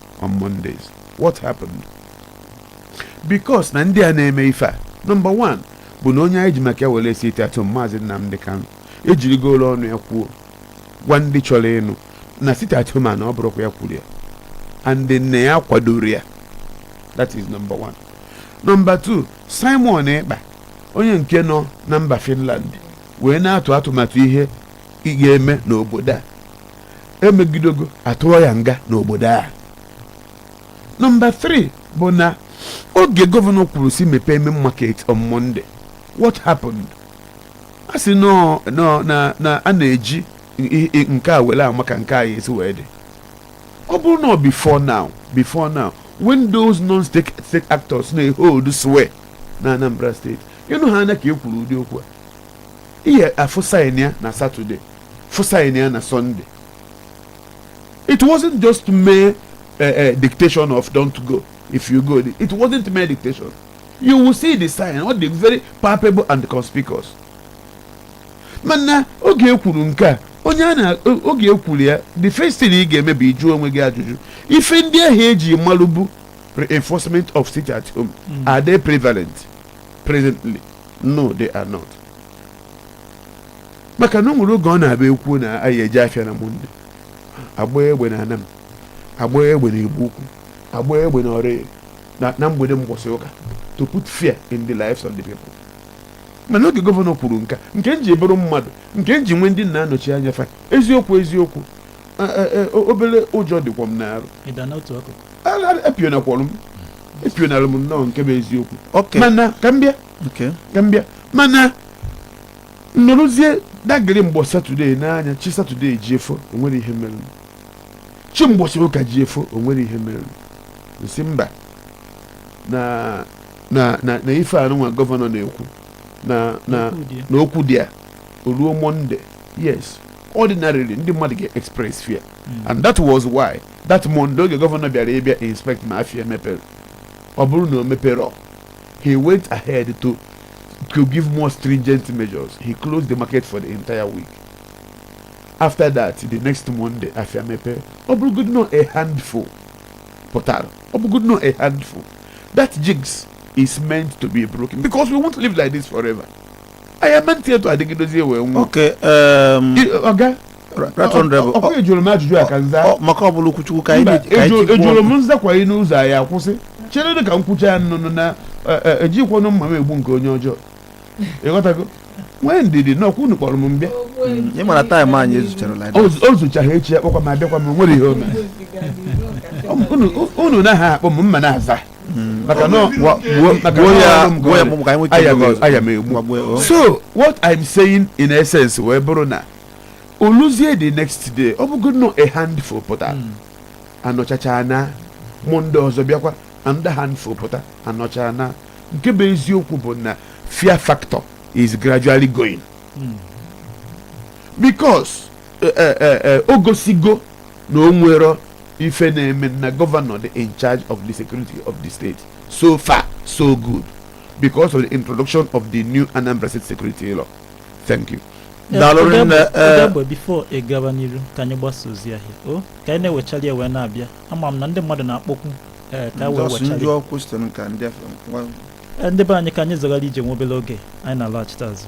on Mondays what happened because na ndị a na-eme ife a number one bụ na onye anyị ji maka ya were sit at home maazị Nnamdị Kanụ ejirigoro ọnụ ya kwuo gwa ndị chọrọ ịnụ na sit at home a na ọ bụrọkwa ya kwuru ya and na ya akwadorọ ya that is number one number two Simon Ekpa onye nke nọ na mba Finland wee na-atụ atụmatụ ihe a ga-eme n'obodo a emegidogo atụọ ya nga n'obodo a nọmba 3 bụ na oge gọvanọ kwuru sị mepee main market on Monday what happened a sị nọ nọ na na a na-eji i- i- nke a were ama ka nke a ya-esi wee dị ọ bụrụ na ọ before now before now when those non-state state actors na-ehold sway na Anambra State ị nụ ha anya ka e kwuru ụdị okwu a ị ya-afụ sign ya na satọde fụ sign ya na sọnde it wasn't just mere uh, uh, dictation of don't go if you go it wasn't mere dictation you will see the sign ọ dị very palpable and conspicuous mana oge e kwuru nke a onye a na oge e kwuru ya the first thing ị ga-eme bụ ịjụ onwe gị ajụjụ ife ndị ahụ e ji malụbu reinforcement of sit at home are they prevalent presently no they are not maka na o nwere oge ọ na-abụ e kwuo na a ya-eje afịa na monde a gbaa egbe na Anam a gbaa egbe na Igbo Ukwu a gbaa egbe na ọrịa na, na mgbede mgbọsị ụka to put fear in the lives of the people mana oge gọvanọ kwuru nka nke m ji bụrụ mmadụ nke m ji nwee ndị m na-anọchi anya fa eziokwu eziokwu obere ụjọ dịkwa m n'arụ epionakwalụ m epionalụ m nnọọ nke bụ eziokwu mana ka m bịa ka m bịa mana m nọrọzie dagịrị mgbọ satọdee n'anya chi satọdee jie fo o nwerọ ihe mere chi mgbọsị ụka jie fo o nwerọ ihe mere m sị mba na na na na ife anụnwa gọvanọ na-ekwu na na okwu dị ya o ruo monde yes ordinarily ndị mmadụ ga-express fear and that was why that Monday oge gọvanọ bịara ịbịa inspect ma afia mepere ọ bụrụ na o meperọ he went ahead to to give more stringent measures he closed the market for the entire week after that the next Monday afia mepere ọ bụrụgodu na a handful pụtara ọ bụrụgodu na a handful that jinx is meant to be broken because we won't live like this forever anyị ama-adị etu a dịgidozie wee nwụọ okay em, I- ọga Right Honorable. ọkwa e jụrụ m ajụjụ a ka m zaa ọ- maka ọ bụla okwuchukwu ka anyị Mba, na-eji- ka anyị ejo- tikwu e jụrụ ọnụ. m m zakwa anyị n'ụzọ anyị akwụsị cheredị ka m kwuchaa ya nnụnụ na eh, eh, ejikwanụ mma m egbu nke onye ọjọọ ịghọtago nwee ndidi na ọkwa unu kpọrọ m m bịa ị mara taịm anyị ezucharala O zu- o zuchaghị echi a kpọkwa m abịakwa m o nwere ihe o mere Unu- unu na ha akpọ m mụ ana-aza maka na gwa- gwa- maka gwa na ya ọrụ m gwa ya gọọmenti. mụ ka anyị nweta Aya ego m- aya m egbu. Gbagbuo, oh. so what i'm saying in essence wee bụrụ na o luzie the next day ọ bụgo na a handful pụta a nọchachaa na Monday ọzọ bịakwa another handful pụta a nọchaa na nke bụ eziokwu bụ na fear factor is gradually going because eh, eh, eh, eh, o gosigo na o nwere ife na-eme na gọvanọ dị in charge of the security of the state so far so good because of the introduction of the new Anambra State security law thank you daalụ rinne ee Odegbe before ị gaba n'iru ka anyị gbasaa ozi ahịa o ka anyị na-ewechali ya wee na-abịa ama m na ndị mmadụ na-akpọkwu ee ka wee Just wechali ndị ọkwụ sitere ka ndị afọ Ee, ndị be anyị ka anyị zọgara ije nwa obere oge anyị na-alọghachite azụ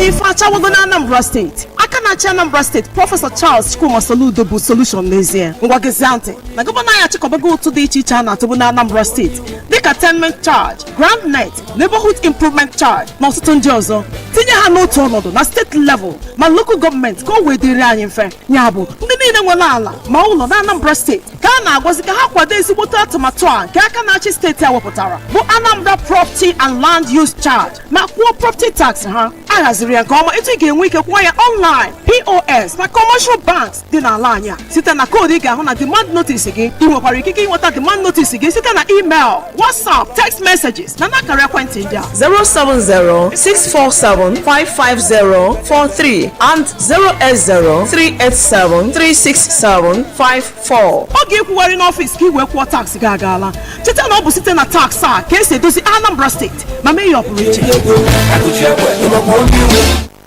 ife achawago na anambra steeti aka na-achị anambra steeti prọfesọ charles chukwuma soludo bụ solushon n'ezie ngwa gezie ntị na gọvanọ anyị achịkọbago ụtụ dị iche iche a na-atụbu na anambra steeti dịka tenement charge ground rent neighborhood improvement charge na ọtụtụ ndị ọzọ tinye ha n'otu ọnọdụ na steeti level ma lokal gọọmenti ka o wee dịrị anyị mfe ya bụ ndị niile nwere ala ma ụlọ na anambra steeti ka a na-agwazi ka ha kwado ezigbote atụmatụ a nke aka na-achị steeti a wepụtara bụ Anambra Property and Land Use Charge ma kwụọ property tax ha a haziri ya nke ọma etu ị ga-enwe ike kwụọ ya online POS na commercial banks dị n'ala anyị a site na koodu ị ga-ahụ na demand notice gị ị nwekwara ikike inweta demand notice gị site na email WhatsApp text messages na n'akara ekwentị ndị a 070-647-55043 and 080-387-36754. oge ịkwụgharị n'ọfịs ka ị wee kwụọ tax gị agaala cheta na ọ bụ site na tax a ka esi edozi Anambra steeti ma mee ya ọpụrụiche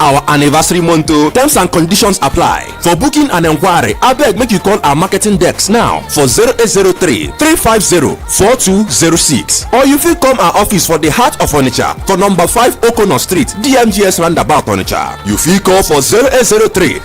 our anniversary month o terms and conditions apply for booking and enquiry abeg make you call our marketing desk now for 0803 350 4206 or you fit come our office for the heart of onitsha for number 5 okono street dmgs roundabout onitsha you fit call for 0803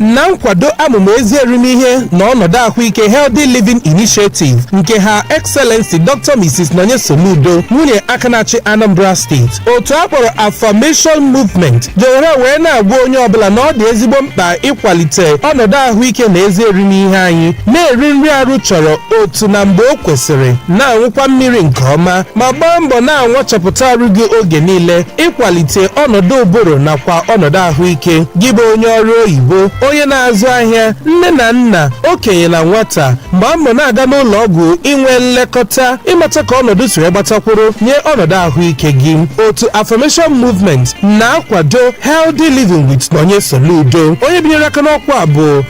na nkwado amụma ezi erimihe na ọnọdụ ahụike Healthy Living Initiative nke Her Excellency Dr. Mrs. Nonye Soludo nwunye aka na-achị Anambra steeti otu a kpọrọ Affirmation Movement jewere wee na-agwa onye ọbụla na ọ dị ezigbo mkpa ịkwalite ọnọdụ ahụike na ezi erimihe anyị na-eri nri arụ chọrọ otu na mgbe o kwesịrị na-aṅụkwa mmiri nke ọma ma gbaa mbọ na-anwachapụta arụ gị oge niile ịkwalite ọnọdụ ụbụrụ nakwa ọnọdụ ahụike gị bụ onye ọrụ oyibo onye na-azụ ahịa nne na nna okenye na nwata gbaa mbọ na-aga n'ụlọ ọgwụ inwe nlekọta ịmata ka ọnọdụ si wee gbata kwụrụ nye ọnọdụ ahụike gị otu Affirmation Movement na-akwado Healthy Living with Nonye Soludo onye binyere aka n'ọkwa a bụ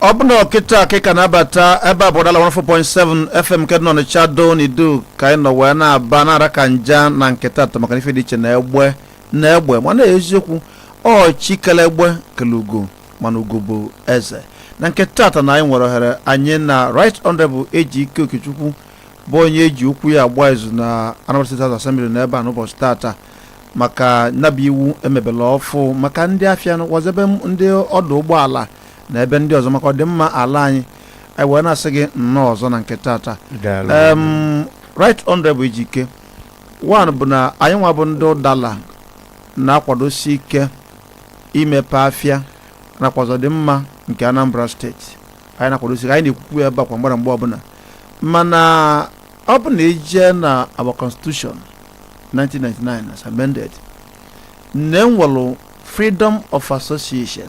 ọ bụ na ọ kịta ka ị ka na-abata ebe a bụ ụdala 104.7 fm nke dị n'ọnịcha ado n'idu ka anyị nọ wee na-aba na-ara ka nja na nke tata maka na ife dị iche na egbe na egbe mana eziokwu ọ chi kele egbe kele ugo mana ugo bụ eze na nke tata na anyị nwere ohere anyị na right honorable ejike okechukwu bụ onye eji okwu ya agba izu na Anambra State House Assembly nọ ebe a n'ụbọchị tata maka nya bụ iwu emebelụ ọfụụ maka ndị afịa nakwazị ebe ndị ọdụ ụgbọala na ebe ndị ọzọ maka ọdịmma ala anyị anyị wee na-asị gị nnọọ ọzọ na nke tata Daalụ. Em, right honorable ejike one bụ na anyị nwa bụ ndị ụdala na-akwadosi ike imepe afịa nakwazị ọdịmma nke anambra steeti anyị na-akwadosi ike anyị na-ekwukwa ya ebe a kwa mgbara mgbe ọbụla mana ọ bụ na ị jee na our constitution 1999 as amended na enwelụ freedom of association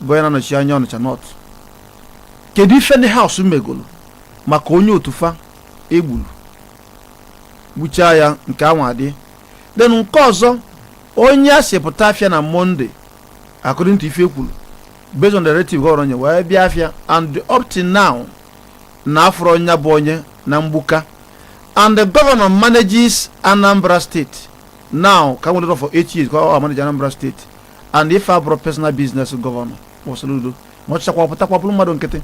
bụ onye na-anọchi anya ọnịcha north kedu ife ndị house megolo maka onye otu fa egburu gbuchaa ya nke anwa adị then nke ọzọ onye a sị pụta afịa na monday according to ife ekwuru based on the directive gọvanọ nye wee bịa afịa and up till now na afụrọ onye bụ onye na mgbuka and the governor manages anambra state now ka nwere for eight years ka ọ manage anambra state and ife a abụrọ personal business gọvanọ nwa soludo ma ọ chịchakwa pụtakwa bụrụ mmadụ nkịtị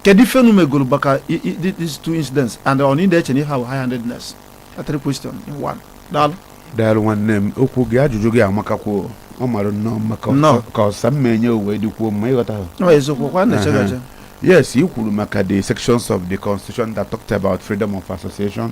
kedu ife unu megoro maka i- i- i- these two incidents and ọ na ị na-eche na ihe ahụ high handedness that's three question in one daalụ daalụ nwanne m okwu gị ajụjụ gị amakakwuo ọ mara nnọọ mma ka Nnọọ. ọ- ka ọsa m ma-enye wee dịkwuo mma ịghọta ha ọ eziokwu kwa na-eche Aha. gaje yes i kwuru maka the sections of the constitution that talked about freedom of association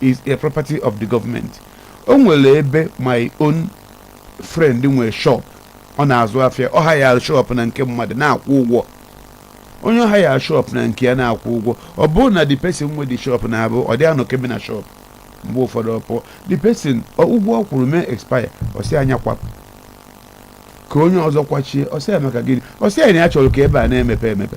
is a property of the government o nwere ebe my own friend nwere shop ọ na-azụ afịa ọ hire shop na nke mmadụ na-akwụ ụgwọ onye ọ hire shop na nke ya na-akwụ ụgwọ ọ bụrụ na the person nwe the shop na-abụ ọ dị anọkebe na shop mgbe ụfọdụ ọ pụọ the person ọ- ụgwọ ọ kwụrụ mee expire ọ sị ya nya kwapụ ka onye ọzọ kwachie ọ sị ya maka gịnị ọ sị ya na ya chọrọ ka ebe a na-emepe emepe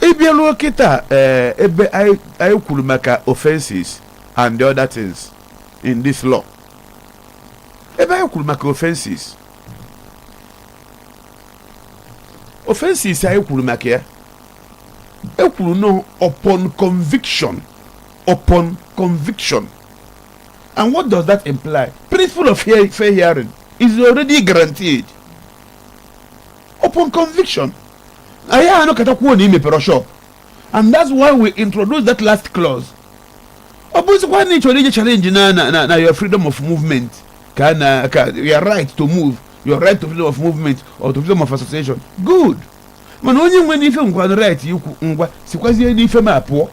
ị bịaruo kịta ee ebe anyị anyị kwuru maka offenses and the other things in this law ebe anyị kwuru maka offenses offenses anyị kwuru maka ya e kwuru na upon conviction upon conviction and what does that imply principle of fair fair hearing is already guaranteed upon conviction a ya-anọkata kwuo na i mepero shop and that's why we introduce that last clause ọ bụzikwa na ị chọrọ ije challenge na na na na your freedom of movement ka na ka your right to move your right to freedom of movement or to freedom of association good mana onye nwenụ ife nwekwanụ right ikwu ngwa sikwazie n'ife m a pụọ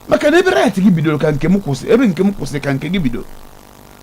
maka na ebe right gị bidoro ka nke m kwụsị ebe nke m kwụsị ka nke gị bidoro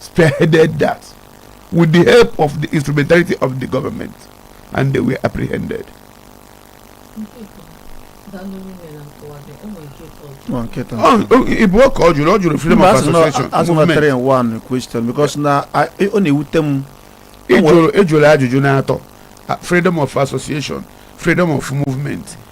spearheaded that with the help of the instrumentality of the government and they were apprehended. Nwa nkịta. Oh, oh, ị bụ ọka ọ jụrụ ọ jụrụ freedom Mba, of asị na- association asị na movement. 3 in 1 question because na I- ọ na-ewute m Ị jụrụ ị jụrụ ajụjụ n'atọ ah, freedom of association freedom of movement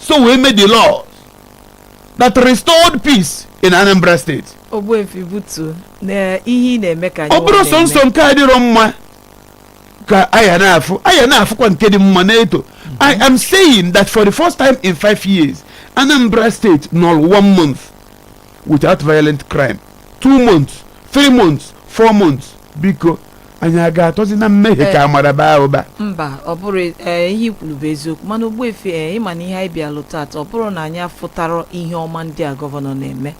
so we made the laws that restored peace in anambra state ogbuefi butuo na ihe ị na-eme ka anyị ọ bụrọ nwa sọsọ na-eme. nke adịrọ mma ka a ya na-afụ a ya na-afụkwa nke dị mma na-eto i am saying that for the first time in five years anambra state nọrọ one month without violent crime two months three months four months biko anyị a ga-atọzi na mmehie ka amara baa ụba mba ọ bụrọ ee ihe i kwuru bụ eziokwu mana ogbuefi ee ị ma na ihe anyị bịalụ tata ọ bụrọ na anyị afụtarọ ihe ọma ndị a gọvanọ na-eme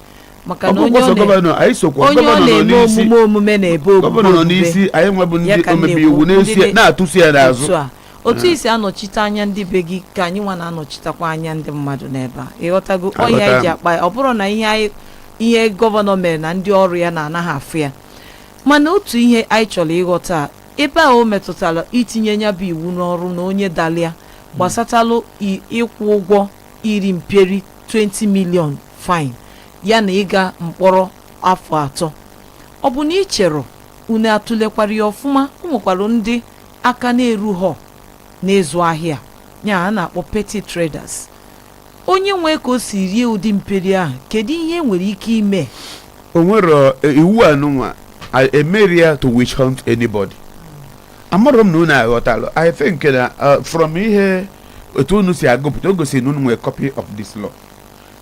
maka na onye ọgwụgwọ sọ ọ na- gọvanọ anyị sokwa onye ọ gọvanọ nọ na-eme n'isi omume omume na-ebe omume gọvanọ nọ omume. n'isi anyị nwa bụ Ya ndị ka m omebe na-ekwu, iwu ndị na-esi- dị- na-atụsi ya n'azụ otu a otu i si anọchite anya ndị be gị ka anyị nwa na-anọchitekwa anya ndị mmadụ n'ebe a ị ghọtago ọ ya Aghọtara anyị ji m. akpa ya ọ bụrọ na ihe anyị ihe gọvanọ mere na ndị ọrụ ya na anaghị afụ ya mana otu ihe anyị chọrọ ịghọta a, ebe a o metụtara itinye nya bụ iwu n'ọrụ na onye dalụ ya gbasatalụ i- ịkwụ ụgwọ iri mperi 20 million fine ya na ịga mkpọrọ afọ atọ ọ bụ na ị cherọ unu atụlekwara ya ọfụma o nwekwara ndị aka na-erughọ n'ịzụ ahịa ya a na-akpọ petty traders onye nwee ka o si rie ụdị mperi ahụ kedu ihe nwere ike ime o nwerọ eh, iwu anụnwa I- emerọ ya to witch hunt anybody amarọ m na unu aghọtalụ i think na eh, from ihe otu unu si agụpụta o gosiri na unu nwere copy of this law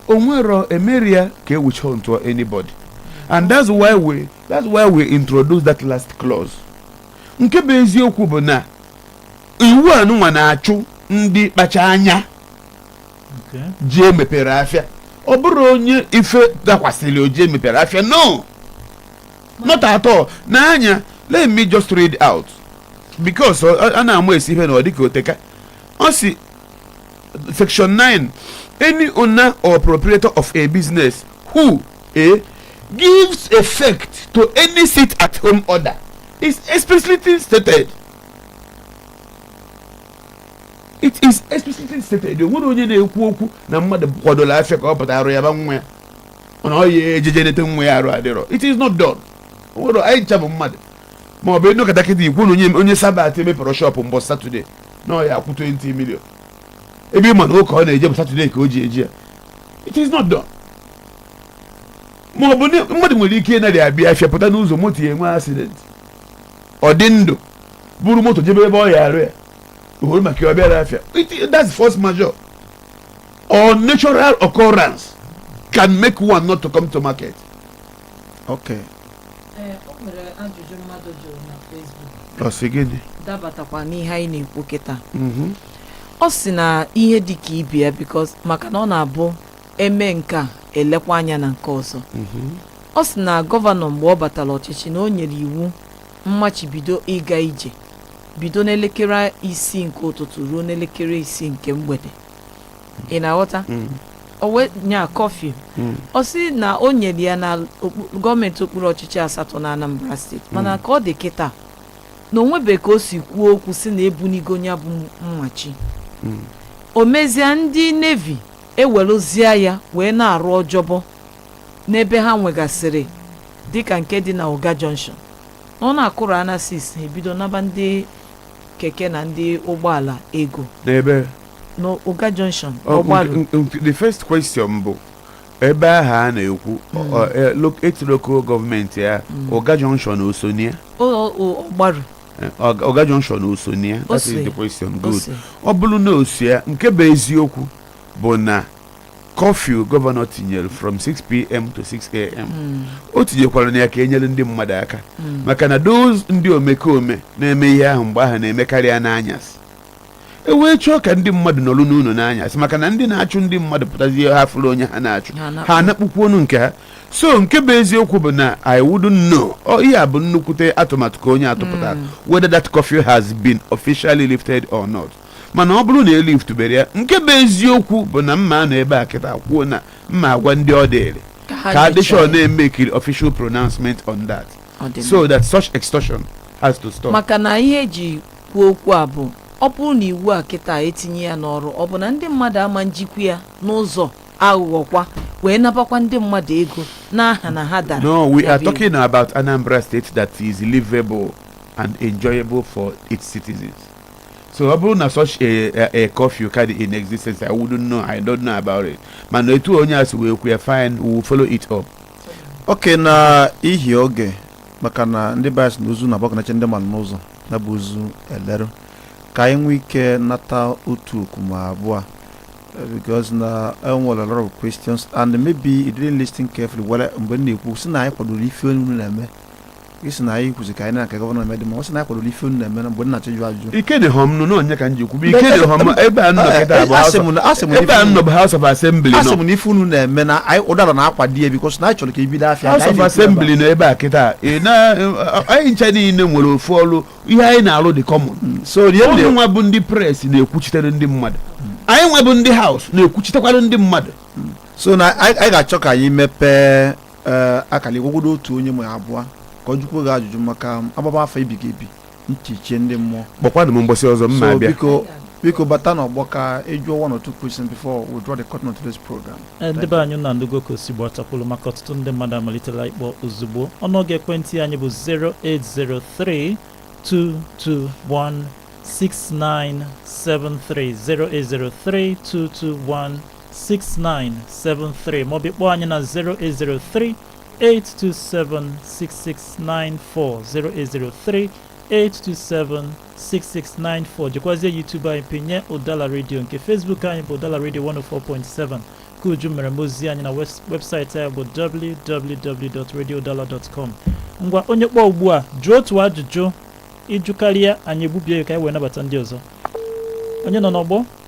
o nwerọ emerọ ya ka e witch hunt anybody and that's why we that's why we introduce that last clause nke bụ eziokwu bụ na iwu anụnwa na-achụ ndị kpacha anya Okay. ji emepero afịa ọ bụrụ onye ife dakwasịrị o ji emepero afịa no not at all n'anya let me just read out because ọ- ọ- a na-ama esi ife na ọ dịka oteka ọ si section 9 any owner or proprietor of a business who a gives effect to any sit at home order is explicitly stated it is explicitly stated o nwere onye na-ekwu okwu na mmadụ kwadola afịa ka ọ pụta arụ yaba nwa ya mana ọ ya eje je nete nwa ya arụ adịrọ it is not done o nwere anyị ncha bụ mmadụ ma ọ bụ ị nọkata kịta ikwu na onye onye sabat emepero shọpụ mbọ satọde na ọ ya akwụ 20 million ebe ị ma na ụka ọ na-eje bụ satọde ka o ji eje ya it is not done ma ọ bụ na mmadụ nwere ike ịnarị abịa afịa pụta n'ụzọ moto ya enwe accident ọ dị ndụ buru moto jebe ebe ọ ya arụ ya ohoro maka ya ọ bịarọ afịa It- that's force majeure or natural occurrence can make one not to come to market ok Ee, o nwere ajụjụ mmadụ jụrụ na Facebook ọ sị gị dị dabatakwa n'ihe anyị na-ekwu kịta Mhm. ọ sị na ihe dị ka ibe ya because maka na ọ na-abụ eme nke a elekwa anya na nke ọzọ Mhm. ọ sị na gọvanọ mgbe ọ batara ọchịchị na o nyere iwu mmachibido ịga ije bido n'elekere isii nke ụtụtụ ruo n'elekere isii nke mgbede ị na-aghọta Mm. o wee nye curfew Mm. ọ sị na o nyere ya na okpu- gọọmenti okpuru ọchịchị asatọ na anambra steeti mana ka ọ dị kịta na o nwebe ka o si kwuo okwu si na ebunigo ya bụ mmachi Mm. o mezie ndị Navy ewerezie ya wee na-arụ ọjọbọ n'ebe ha nwegasịrị dịka nke dị na Uga junction na ọ na-akụrụ na six e bido naba ndị keke na ndị ụgbọala ego n'ebe n'Uga Junction Ọ- ọgbaru nke- nke- the first question bụ ebe ahụ a na-ekwu ọ- ọ- e- lo- etu local gọọmenti ya Uga Junction o so na ya O- o- ọgbaru Uga Junction o so na ya that is Ose. the question good ose ọ bụrụ na osia nke bụ eziokwu bụ na curfew gọvanọ tinyere from 6pm to 6am Mm, o tinyekwara na ya ka e nyere ndị mmadụ aka mm. maka na those ndị omekome na-eme ihe ahụ mgbe ahụ na-emekarị ya n'anyasị e wee chọọ ka ndị mmadụ nọrọ n'ụlọ n'anyasị maka na ndị na-achụ ndị mmadụ pụtazie ha fụrụ onye ha na-achụ ha anakpụkwu ọnụ nke ha so nke bụ eziokwu bụ na I wouldn't know ihe a bụ nnukwute atụmatụ ka onye a tụpụta hmm. whether that curfew has been officially lifted or not mana ọ bụrụ na eliftubere ya nke bụ eziokwu bụ na m ma-anọ ebe a kịta kwuo na m ma-agwa ndị ọ dịrị ka a dị sure na e mekiri official pronouncement on that so that such extortion has to stop maka na ihe eji kwuo okwu a bụ ọ bụrụ na iwu a kịta etinye ya n'ọrụ ọ bụ na ndị mmadụ ama njikwa ya n'ụzọ aghụghọkwa wee nabakwa ndị mmadụ ego n'aha na ha dara ya bụ iwu. No, we are talking about Anambra State that is livable and enjoyable for its citizens. So ọ bụrụ na such a, a, a curfew ka dị in existence, I wouldn't know, I don't know about it. Mana etu onye a si wee kwuo ya, fine, we will follow it up. okay na ihi oge maka na ndị be anyị sị na ozu na-agbagọnacha ndị mmadụ n'ụzọ ya bụ ozu elerụ ka anyị nwee ike nata otu oku ma abụọ eh, because na enwere a lot of questions and maybe you didn't listen carefully were mgbe m na-ekwu sị na anyị kwadoro ife unu na-eme ị sị na anyị kwuzi ka anyị na-aka gọvanọ na-eme dị mma ọ sị na anyị kwadoro ife unu na-eme na mgbe m na-achọ ịjụ ajụjụ ike dị hom nụ n'onye ka m ji kwube ike dị hom ebe a m nọ kịta bụ Asị m na- asị m na ebe a ife- nnọ bụ House of Assembly asị nọ m na ife unu na-eme na anyị Udala na-akwado ya because na anyị chọrọ ka ebido afịa ka anyị na-ekwuba. House of Assembly nọ ebe a kịta ị na- anyị ncha niile nwere ofu ọrụ ihe anyị na-arụ dị common so unu nwa bụ ndị press na-ekwuchitere ndị mmadụ anyị nwa bụ ndị House na-ekwuchitekwara ndị mmadụ so na anyị anyị ga-achọ ka anyị mepee ee, akara igwegwodo otu onye ma abụọ ka ọ jụkwuo gị ajụjụ maka a gbaba afa ebighị ebi ntị echie ndị mmụọ kpọkwanụ m mbọsị ọzọ m ma-abịa biko biko bata n'ọgbọ ka ị jụọ one or two questions before we draw the curtain on today's program Ee, ndị be anyị unu anụgo ka o si gbata kwụrụ maka ọtụtụ ndị mmadụ amalitela ịkpọ ozugbo ọnụọgụ ekwentị anyị bụ 08032216973 08032216973 maọbụ kpọọ anyị na 0803 8276694 08038276694 jekwazie YouTube anyị pinye Udala Radio nke Facebook anyị bụ Udala Radio 104.7 ka uju mere m ozi anyị na wes- webụsaịtị anyị bụ www.radioudala.com ngwa onye kpọọ ugbu a jụọ otu ajụjụ ị jụkarịa anyị egbubie ya ka anyị wee nabata ndị ọzọ onye nọ n'ọgbọ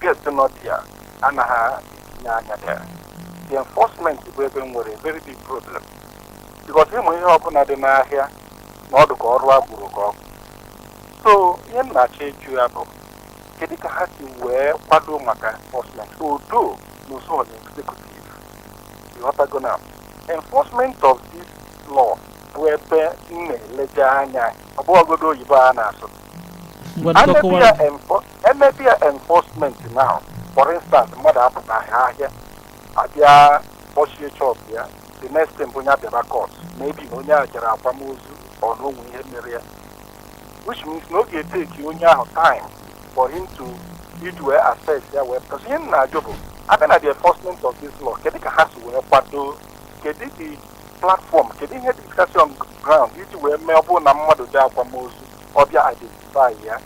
gate nọ there anaghị etinye anya there the enforcement bụ ebe m nwere a very big problem because ị ma ihe ọbụla dị n'ahịa na ọdụ ka ọrụ agbụrụ ka ọgụ so ihe m na-achọ ịjụ ya bụ kedu ka ha si wee kwado maka enforcement odo n'usoro executive ị ghọtago na enforcement of this law bụ ebe m na-eleje anya ọ bụghọgodo oyibo a na-asụ Ngwa a dịka na-ebi kọwara ya enfor- emebe ya enforcement now for instance mmadụ apụtaghị ahịa abịa kpọchie shop ya the next thing bụ onye abịaba court maybe na onye a jere akwamozu or na o nwe ihe mere ya which means na ọ ga-eteki onye ahụ time for him to iji wee assess ya wee because ihe m na-ajụ bụ abịa na the enforcement of this law kedu ka ha si wee kwado kedu the platform kedu ihe dịgasị on ground iji wee mee ọ bụrụ na mmadụ dị akwamozu ọ bịa identify ya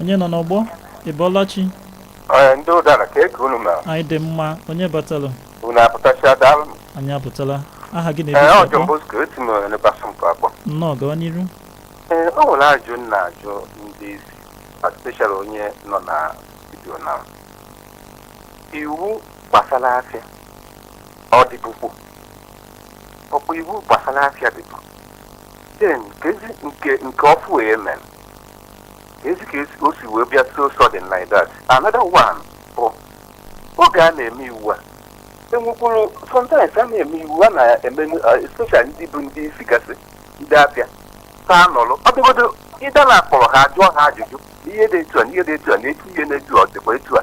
onye nọ n'ọgbọ ị bọọla chi Ee, ndị Udala kee ka unu mere anyị dị mma onye batalụ unu apụtachia daalụ anyị apụtala aha gị ee na ebe i si akpọ ọ Johnbosco esi m n'ebasa mkpa akpọ nnọọ gawa n'iru ee o nwere ajụ m na-ajụ ndị isi especially onye nọ na studio na iwu gbasara afịa ọ dịbụkwu ọ kwa iwu gbasara afịa dịbụ then kezi nke nke ọfụụ wee mere kezi ka esi- o si wee bịa so sudden like that another one bụ oge a na-eme iwu a enwekwuru sometimes a na-eme iwu a na-eme especially ndị bụ ndị isi gasị ndị afịa ka nọrọ ọ dị good idea na a kpọrọ ha jụọ ha ajụjụ ihe dị etu a na ihe dị etu a na etu ihe na-etu a ọ dịkwa etu a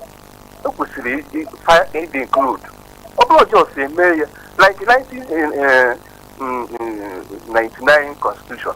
o kwesịrị ịdị- fa- ịdị include ọ bụrọ just e mee ya like 19, eh, eh, mm, mm, 99 constitution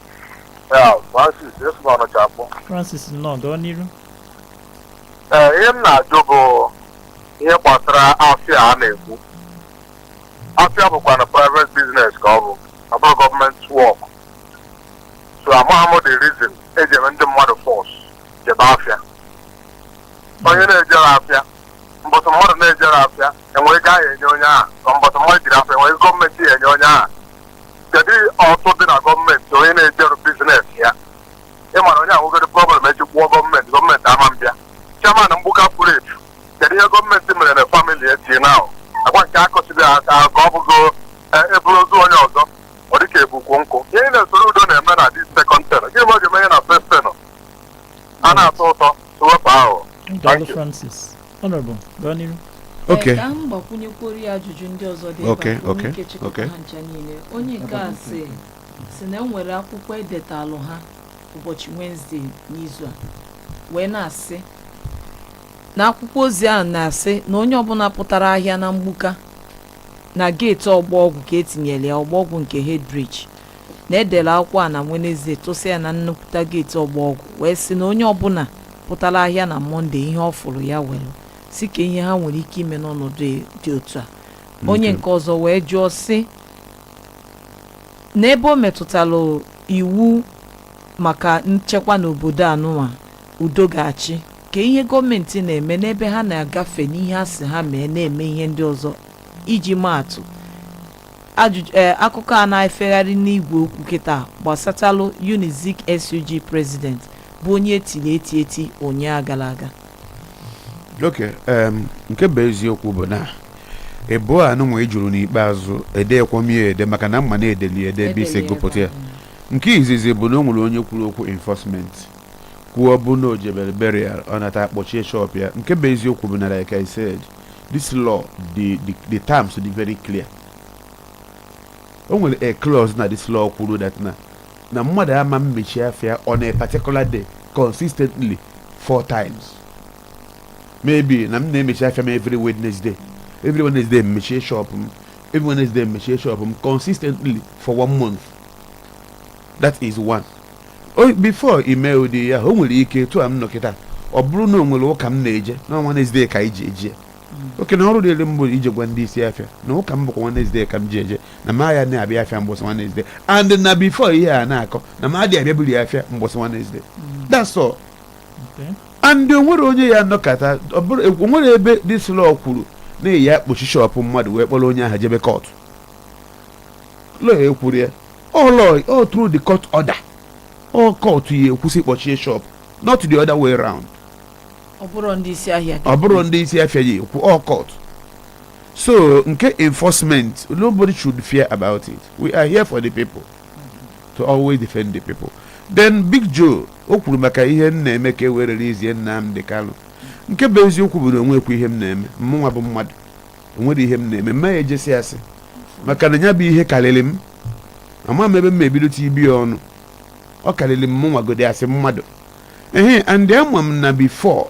Ya, Francis, esi m Ọnịcha akpọ. francis nnọọ gaa n'iru Ee, ihe m na-ajụ bụ ihe gbasara afịa a na-ekwu. Afịa bụkwanụ private business ka ọ bụ, ọ bụrọ gọọmenti work. So amaghị m the reason e ji eme ndị mmadụ force jebe afịa. Onye na-ejerọ afịa, mbọsị mmadụ na-ejerọ afịa, enwere ego ahụ enye onye ahụ so mbọsị mmadụ jere afịa enwere gọọmenti ya enye onye ahụ kedu ụtụ dị na gọọmenti onye na-ejerọ business ya ị mara onye ahụ nwegoro problem e jekwuo gọọmenti gọọmenti ama-abịa chairman Mgbuka furu efu kedu ihe gọọmenti mere na famili eti na agwa nke akọsiri aka ka ọ bụgo e buru ozu onye ọzọ ọ dị ka e bu ukwu nkụ ihe a Soludo na-eme na this second tenure gịnị ma ọ ga-eme ihe na first tenure a na-atụ vootu wepụ ahụ Daalụ Francis. Honorable, gaa n'ihu. Okay. Ee, ka m gbakwunyekwuoro ya ajụjụ ndị ọzọ dị Okay, ebe a ka okay, ike chịkọta okay. ha ncha niile onye nke a sị si na enwere akwụkwọ edetalụ ha ụbọchị Wenesde n'izu a wee na-asị na akwụkwọ ozi ahụ na-asị na onye ọbụla pụtara ahịa na Mgbuka na geeti Ọgbọ Ọgwụ ka e tinyere ya Ọgbọ Ọgwụ nke Headbridge na e dere akwụkwọ a na Wenezdee tụsịa ya na nnukwuta geeti Ọgbọ Ọgwụ wee sị na onye ọbụla pụtara ahịa na Mọnde ihe ọ fụrụ ya were sị kee ihe ha nwere ike ime n'ọnọdụ dị otu a onye nke ọzọ wee jụọ sị n'ebe o metụtara iwu maka nchekwa n'obodo a nụnwa udo ga-achị kee ihe gọọmenti na-eme n'ebe ha na-agafe n'ihe a sị ha mee na-eme ihe ndị ọzọ iji maatụ ajụjụ ee akụkọ a na-efegharị n'igwe okwu kịta gbasatalụ Unizik SUG president bụ onye e tiri eti eti ụnyaa gara aga okay em, nke bụ eziokwu bụ na ịbụọ a nụnwa ị jụrụ n'ikpeazụ edekwo m ye ede maka na m ma na e deli ede ebe i si gụpụta ya nke izizi bụ na o nwere onye kwuru okwu enforcement kwuo ọ bụ na o jebere burial ọ nata akpọchie shop ya nke bụ eziokwu bụ na like I said this law the the the terms dị very clear o nwere a clause na this law kwuru that na na mmadụ ama mmechi afịa on a particular day consistently four times maybe na m na-emechi afịa m every wednesday every wednesday m mechie shop m every wednesday m mechie shop m consistently for one month that is one O- before ime ụdị ya o nwere ike etu a m nọ kịta ọ bụrụ na o nwere ụka m na-eje na ọ na Wednesday ka anyị ji eje ya oke na ọrụ dịrị m bụ ije gwa ndị isi afịa na ụka m bụkwa Wednesday ka m ji eje na m aya na-abịa afịa mgbọsị Wednesday and na before ihe a na-akọ na m adị abịaburu ya afịa mgbọsị Wednesday that's all Okay. and o nwere onye ya anọkata ọ bụrụ o nwere ebe this law kwuru na ya akpọchi shọpụ mmadụ wee kpọrọ onye ahụ jebe kọtụ lọya ekwuru ya ọ lọya ọ through the court order ọ court ya ekwu sị kpọchie shop not the other way round ọ bụrọ ndị isi ahịa ọ bụrọ ndị isi afịa ya ekwu ọ court so nke enforcement nobody should fear about it we are here for the people to always defend the people then big joe o kwuru maka ihe m na-eme ka e were release Nnamdi Kanu nke bụ eziokwu bụ na o nwekwọ ihe m na-eme mụnwa bụ mmadụ o nwerọ ihe m na-eme m ma ya eje sị asị maka na ya bụ ihe karịrị m ama m ebe m ebido tibe ya ọnụ ọ karịrị mụnwa godi as mmadụ ehe and ama m na before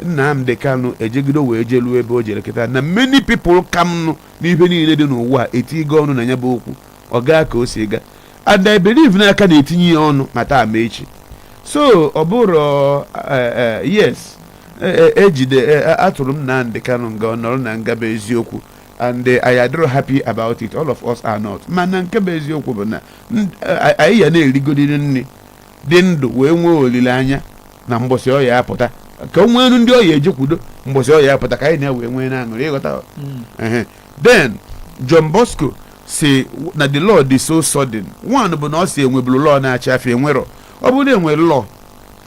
Nnamdi Kanu ejegide wee jeluo ebe o jere kịta na many people ka mụ n'ihe niile dị n'ụwa etigo ọnụ na ya bụ okwu ọ gaa ka o si gaa and I believe na a ka na-etinye ya ọnụ ma taa ma echi so ọ bụrụ eh, eh, yes ejide e, e, e, atụrụ Nnamdi Kanu nga ọ nọrọ na nga bụ eziokwu and eh, anyị adịrọ happy about it all of us are not mana nke bụ eziokwu bụ na eh, anyị ya na-erigodiri nri dị ndụ wee nwee olileanya na mbọsị ọ ya-apụta ka o nwelu ndị ọ ya-ejekwudo mbọsị ọ ya-apụta ka anyị na-ewe nwee na-aṅụrị ị ghọta hmm. then John Bosco si na the law dị so sudden one bụ na ọ si enweburu law na-achị afịa enwerọ ọ bụrụ na enwere law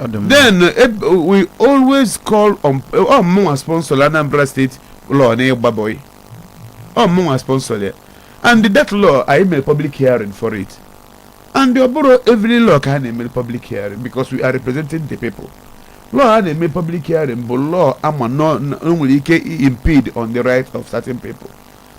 Ọ dị mma. then uh, eb- we always call on ọ mụnwa sponsor Anambra State law n'ịgba boy ọ mụnwa sponsor ya and that law anyị mere public hearing for it and ọ bụrọ every law ka a na-eme public hearing because we are representing the people law a na-eme public hearing bụ law a ma na na- o nwere ike i- impede on the right of certain people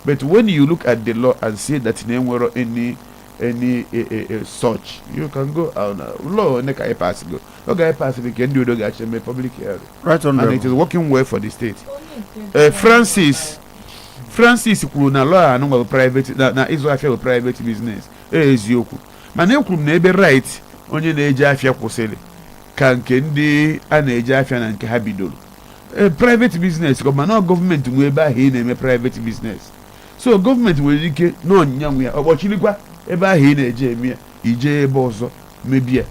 but when you look at the law and see that na enwerọ any any eh, eh, eh, such you can go on uh, law anyị ka pass go ọ ga pass gị ka ndị ọzọ ga-achọ ime public hearing right on and it is working well for the state uh, francis francis kwuru na law ahụ nwere private na, na ịzụ afịa bụ private business eziokwu mana ekwuru m na ebe right onye na-eje afịa kwụsịrị ka nke ndị a na-eje afịa na nke ha bidoro private business mana gọọmenti nwe ebe ahụ ị na-eme private business so gọọmenti nwere ike na ọ nya nwe ya ọ kpọchirikwa ebe ahụ ị na-eje eme ya i jee ebe ọzọ mebe ya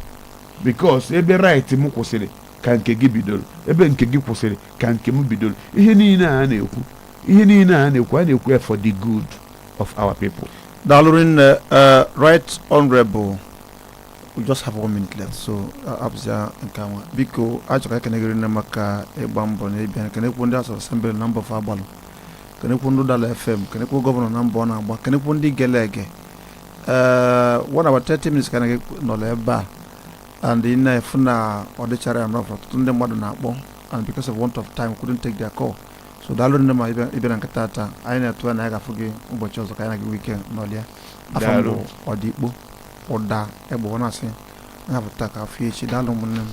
because ebe right m kwụsịrị ka nke gị bidoro ebe nke gị kwụsịrị ka nke m bidoro ihe niile a na-ekwu ihe niile a na-ekwu a na-ekwu ya for the good of our people daalụ rinne eh, right honorable we just have one minute left so ọ bụzia nke anwa biko achọrọ m ikene gị rinne maka ịgba mbọ na ịbịa ekenekwu ndị House of Assembly na mbọ fa gbalụ kenekwu ndị Udala FM kenekwu gọvanọ na mbọ ọ na-agba kenekwu ndị gele ege ee one hour 30 minutes ka anyị nọrọ ebe a and ị na-afụ na ọ dịcharọ enough ọtụtụ ndị mmadụ na-akpọ and because of want of time couldn't take their call so daalụ rinne maka ịbịa ịbịa na nke tata anyị na-atụ anya na anyị ga-afụ gị ụbọchị ọzọ ka anyị na gị nwee ike nọlịa afọ Daalụ. mbụ ọdịkpo ụda egbe ọ na-asị ya bụ taa ka afọ echi daalụ ụmụnne m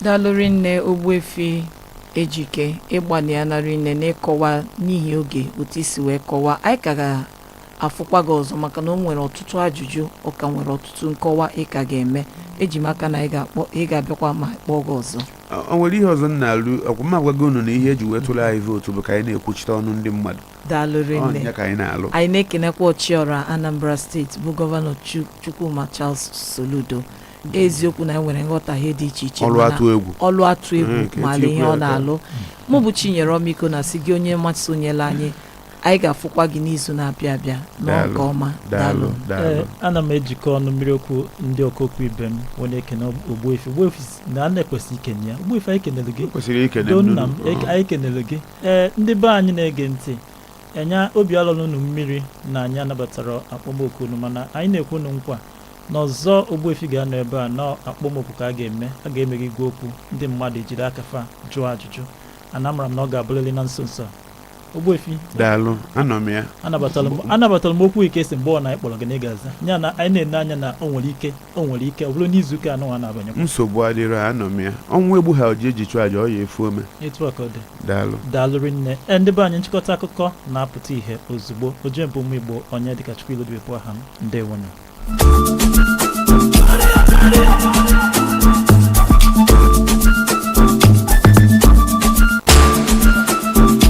daalụ rinne Ogbuefi Ejike ị gbalịana rinne n'ịkọwa n'ihi oge otu i si wee kọwaa anyị ka ga-afụkwa gị ọzọ maka na o nwere ọtụtụ ajụjụ ọ ka nwere ọtụtụ nkọwa ị ka ga-eme eji m aka na ị ga-abịakwa ma a kpọọ gị ọzọ o nwere ihe ọzọ m na-alụ ọkwa m agwago unu na ihe eji wee tụrụ anyị vootu bụ ka anyị na-ekwuchite ọnụ ndị mmadụ daalụ rinne ọ nya ka anyị na-alụ anyị na-ekenekwa ọchịọra anambra steeti bụ gọvanọ Chu- chukwuma charles soludo eziokwu na e nwere nghọtahie dị iche iche ọlụ mana atụ egwu ọlụ atụ egwu Mm, ka maara etinyekwu ihe ya ọ aka. na-alụ mụ bụ chinyere ọmịiko na-asị gị onye mmasị sonyela anyị anyị ga-afụkwa gị n'izu na-abịa abịa nọọ Daalụ, nke ọma daalụ Ee, daalụ ana m ejikọ ọnụ mmiri okwu ndị ọkaokwu ibe m wee na-ekene ogbuefi ogbuefi si na a na-ekwesị ikene ya ogbuefi anyị kenere gị kwesịrị ikene do nna m nnụnụ. eke- anyị kenere gị ee ndị be anyị na-ege ntị enya obi alọla unu mmiri na anyị anabatarọ akpọmoku unu mana anyị na-ekwe unu nkwa na ọzọ Ogbuefi ga-anọ ebe a na akpọmoku ka a ga-eme a ga-emeghe igwe okwu ndị mmadụ ejiri aka fa jụọ ajụjụ ana amara m na ọ ga-abụrịrị na nso nso a. Ogbuefi daalụ anọ m ya anabatara m anabatara m oku i kwe sị mgbe ọ na anyị kpọrọ gị na ị ga-aza ya na anyị na-ene anya na o nwere ike o nwere ike ọ bụrụ n'izu ụka anọ a na-abanye nsogbu adịrọ anọ m ya ọnwụ egbuhọ ji e ji chụọ aja ọ ya-efu ome etu a ka ọ dị daalụ daalụ rinne ee ndị be anyị nchịkọta akụkọ na-apụta ihe ozugbo ojemba ụmụ igbo onyedịkachukwu ilodibe bụ aha m ndewonụ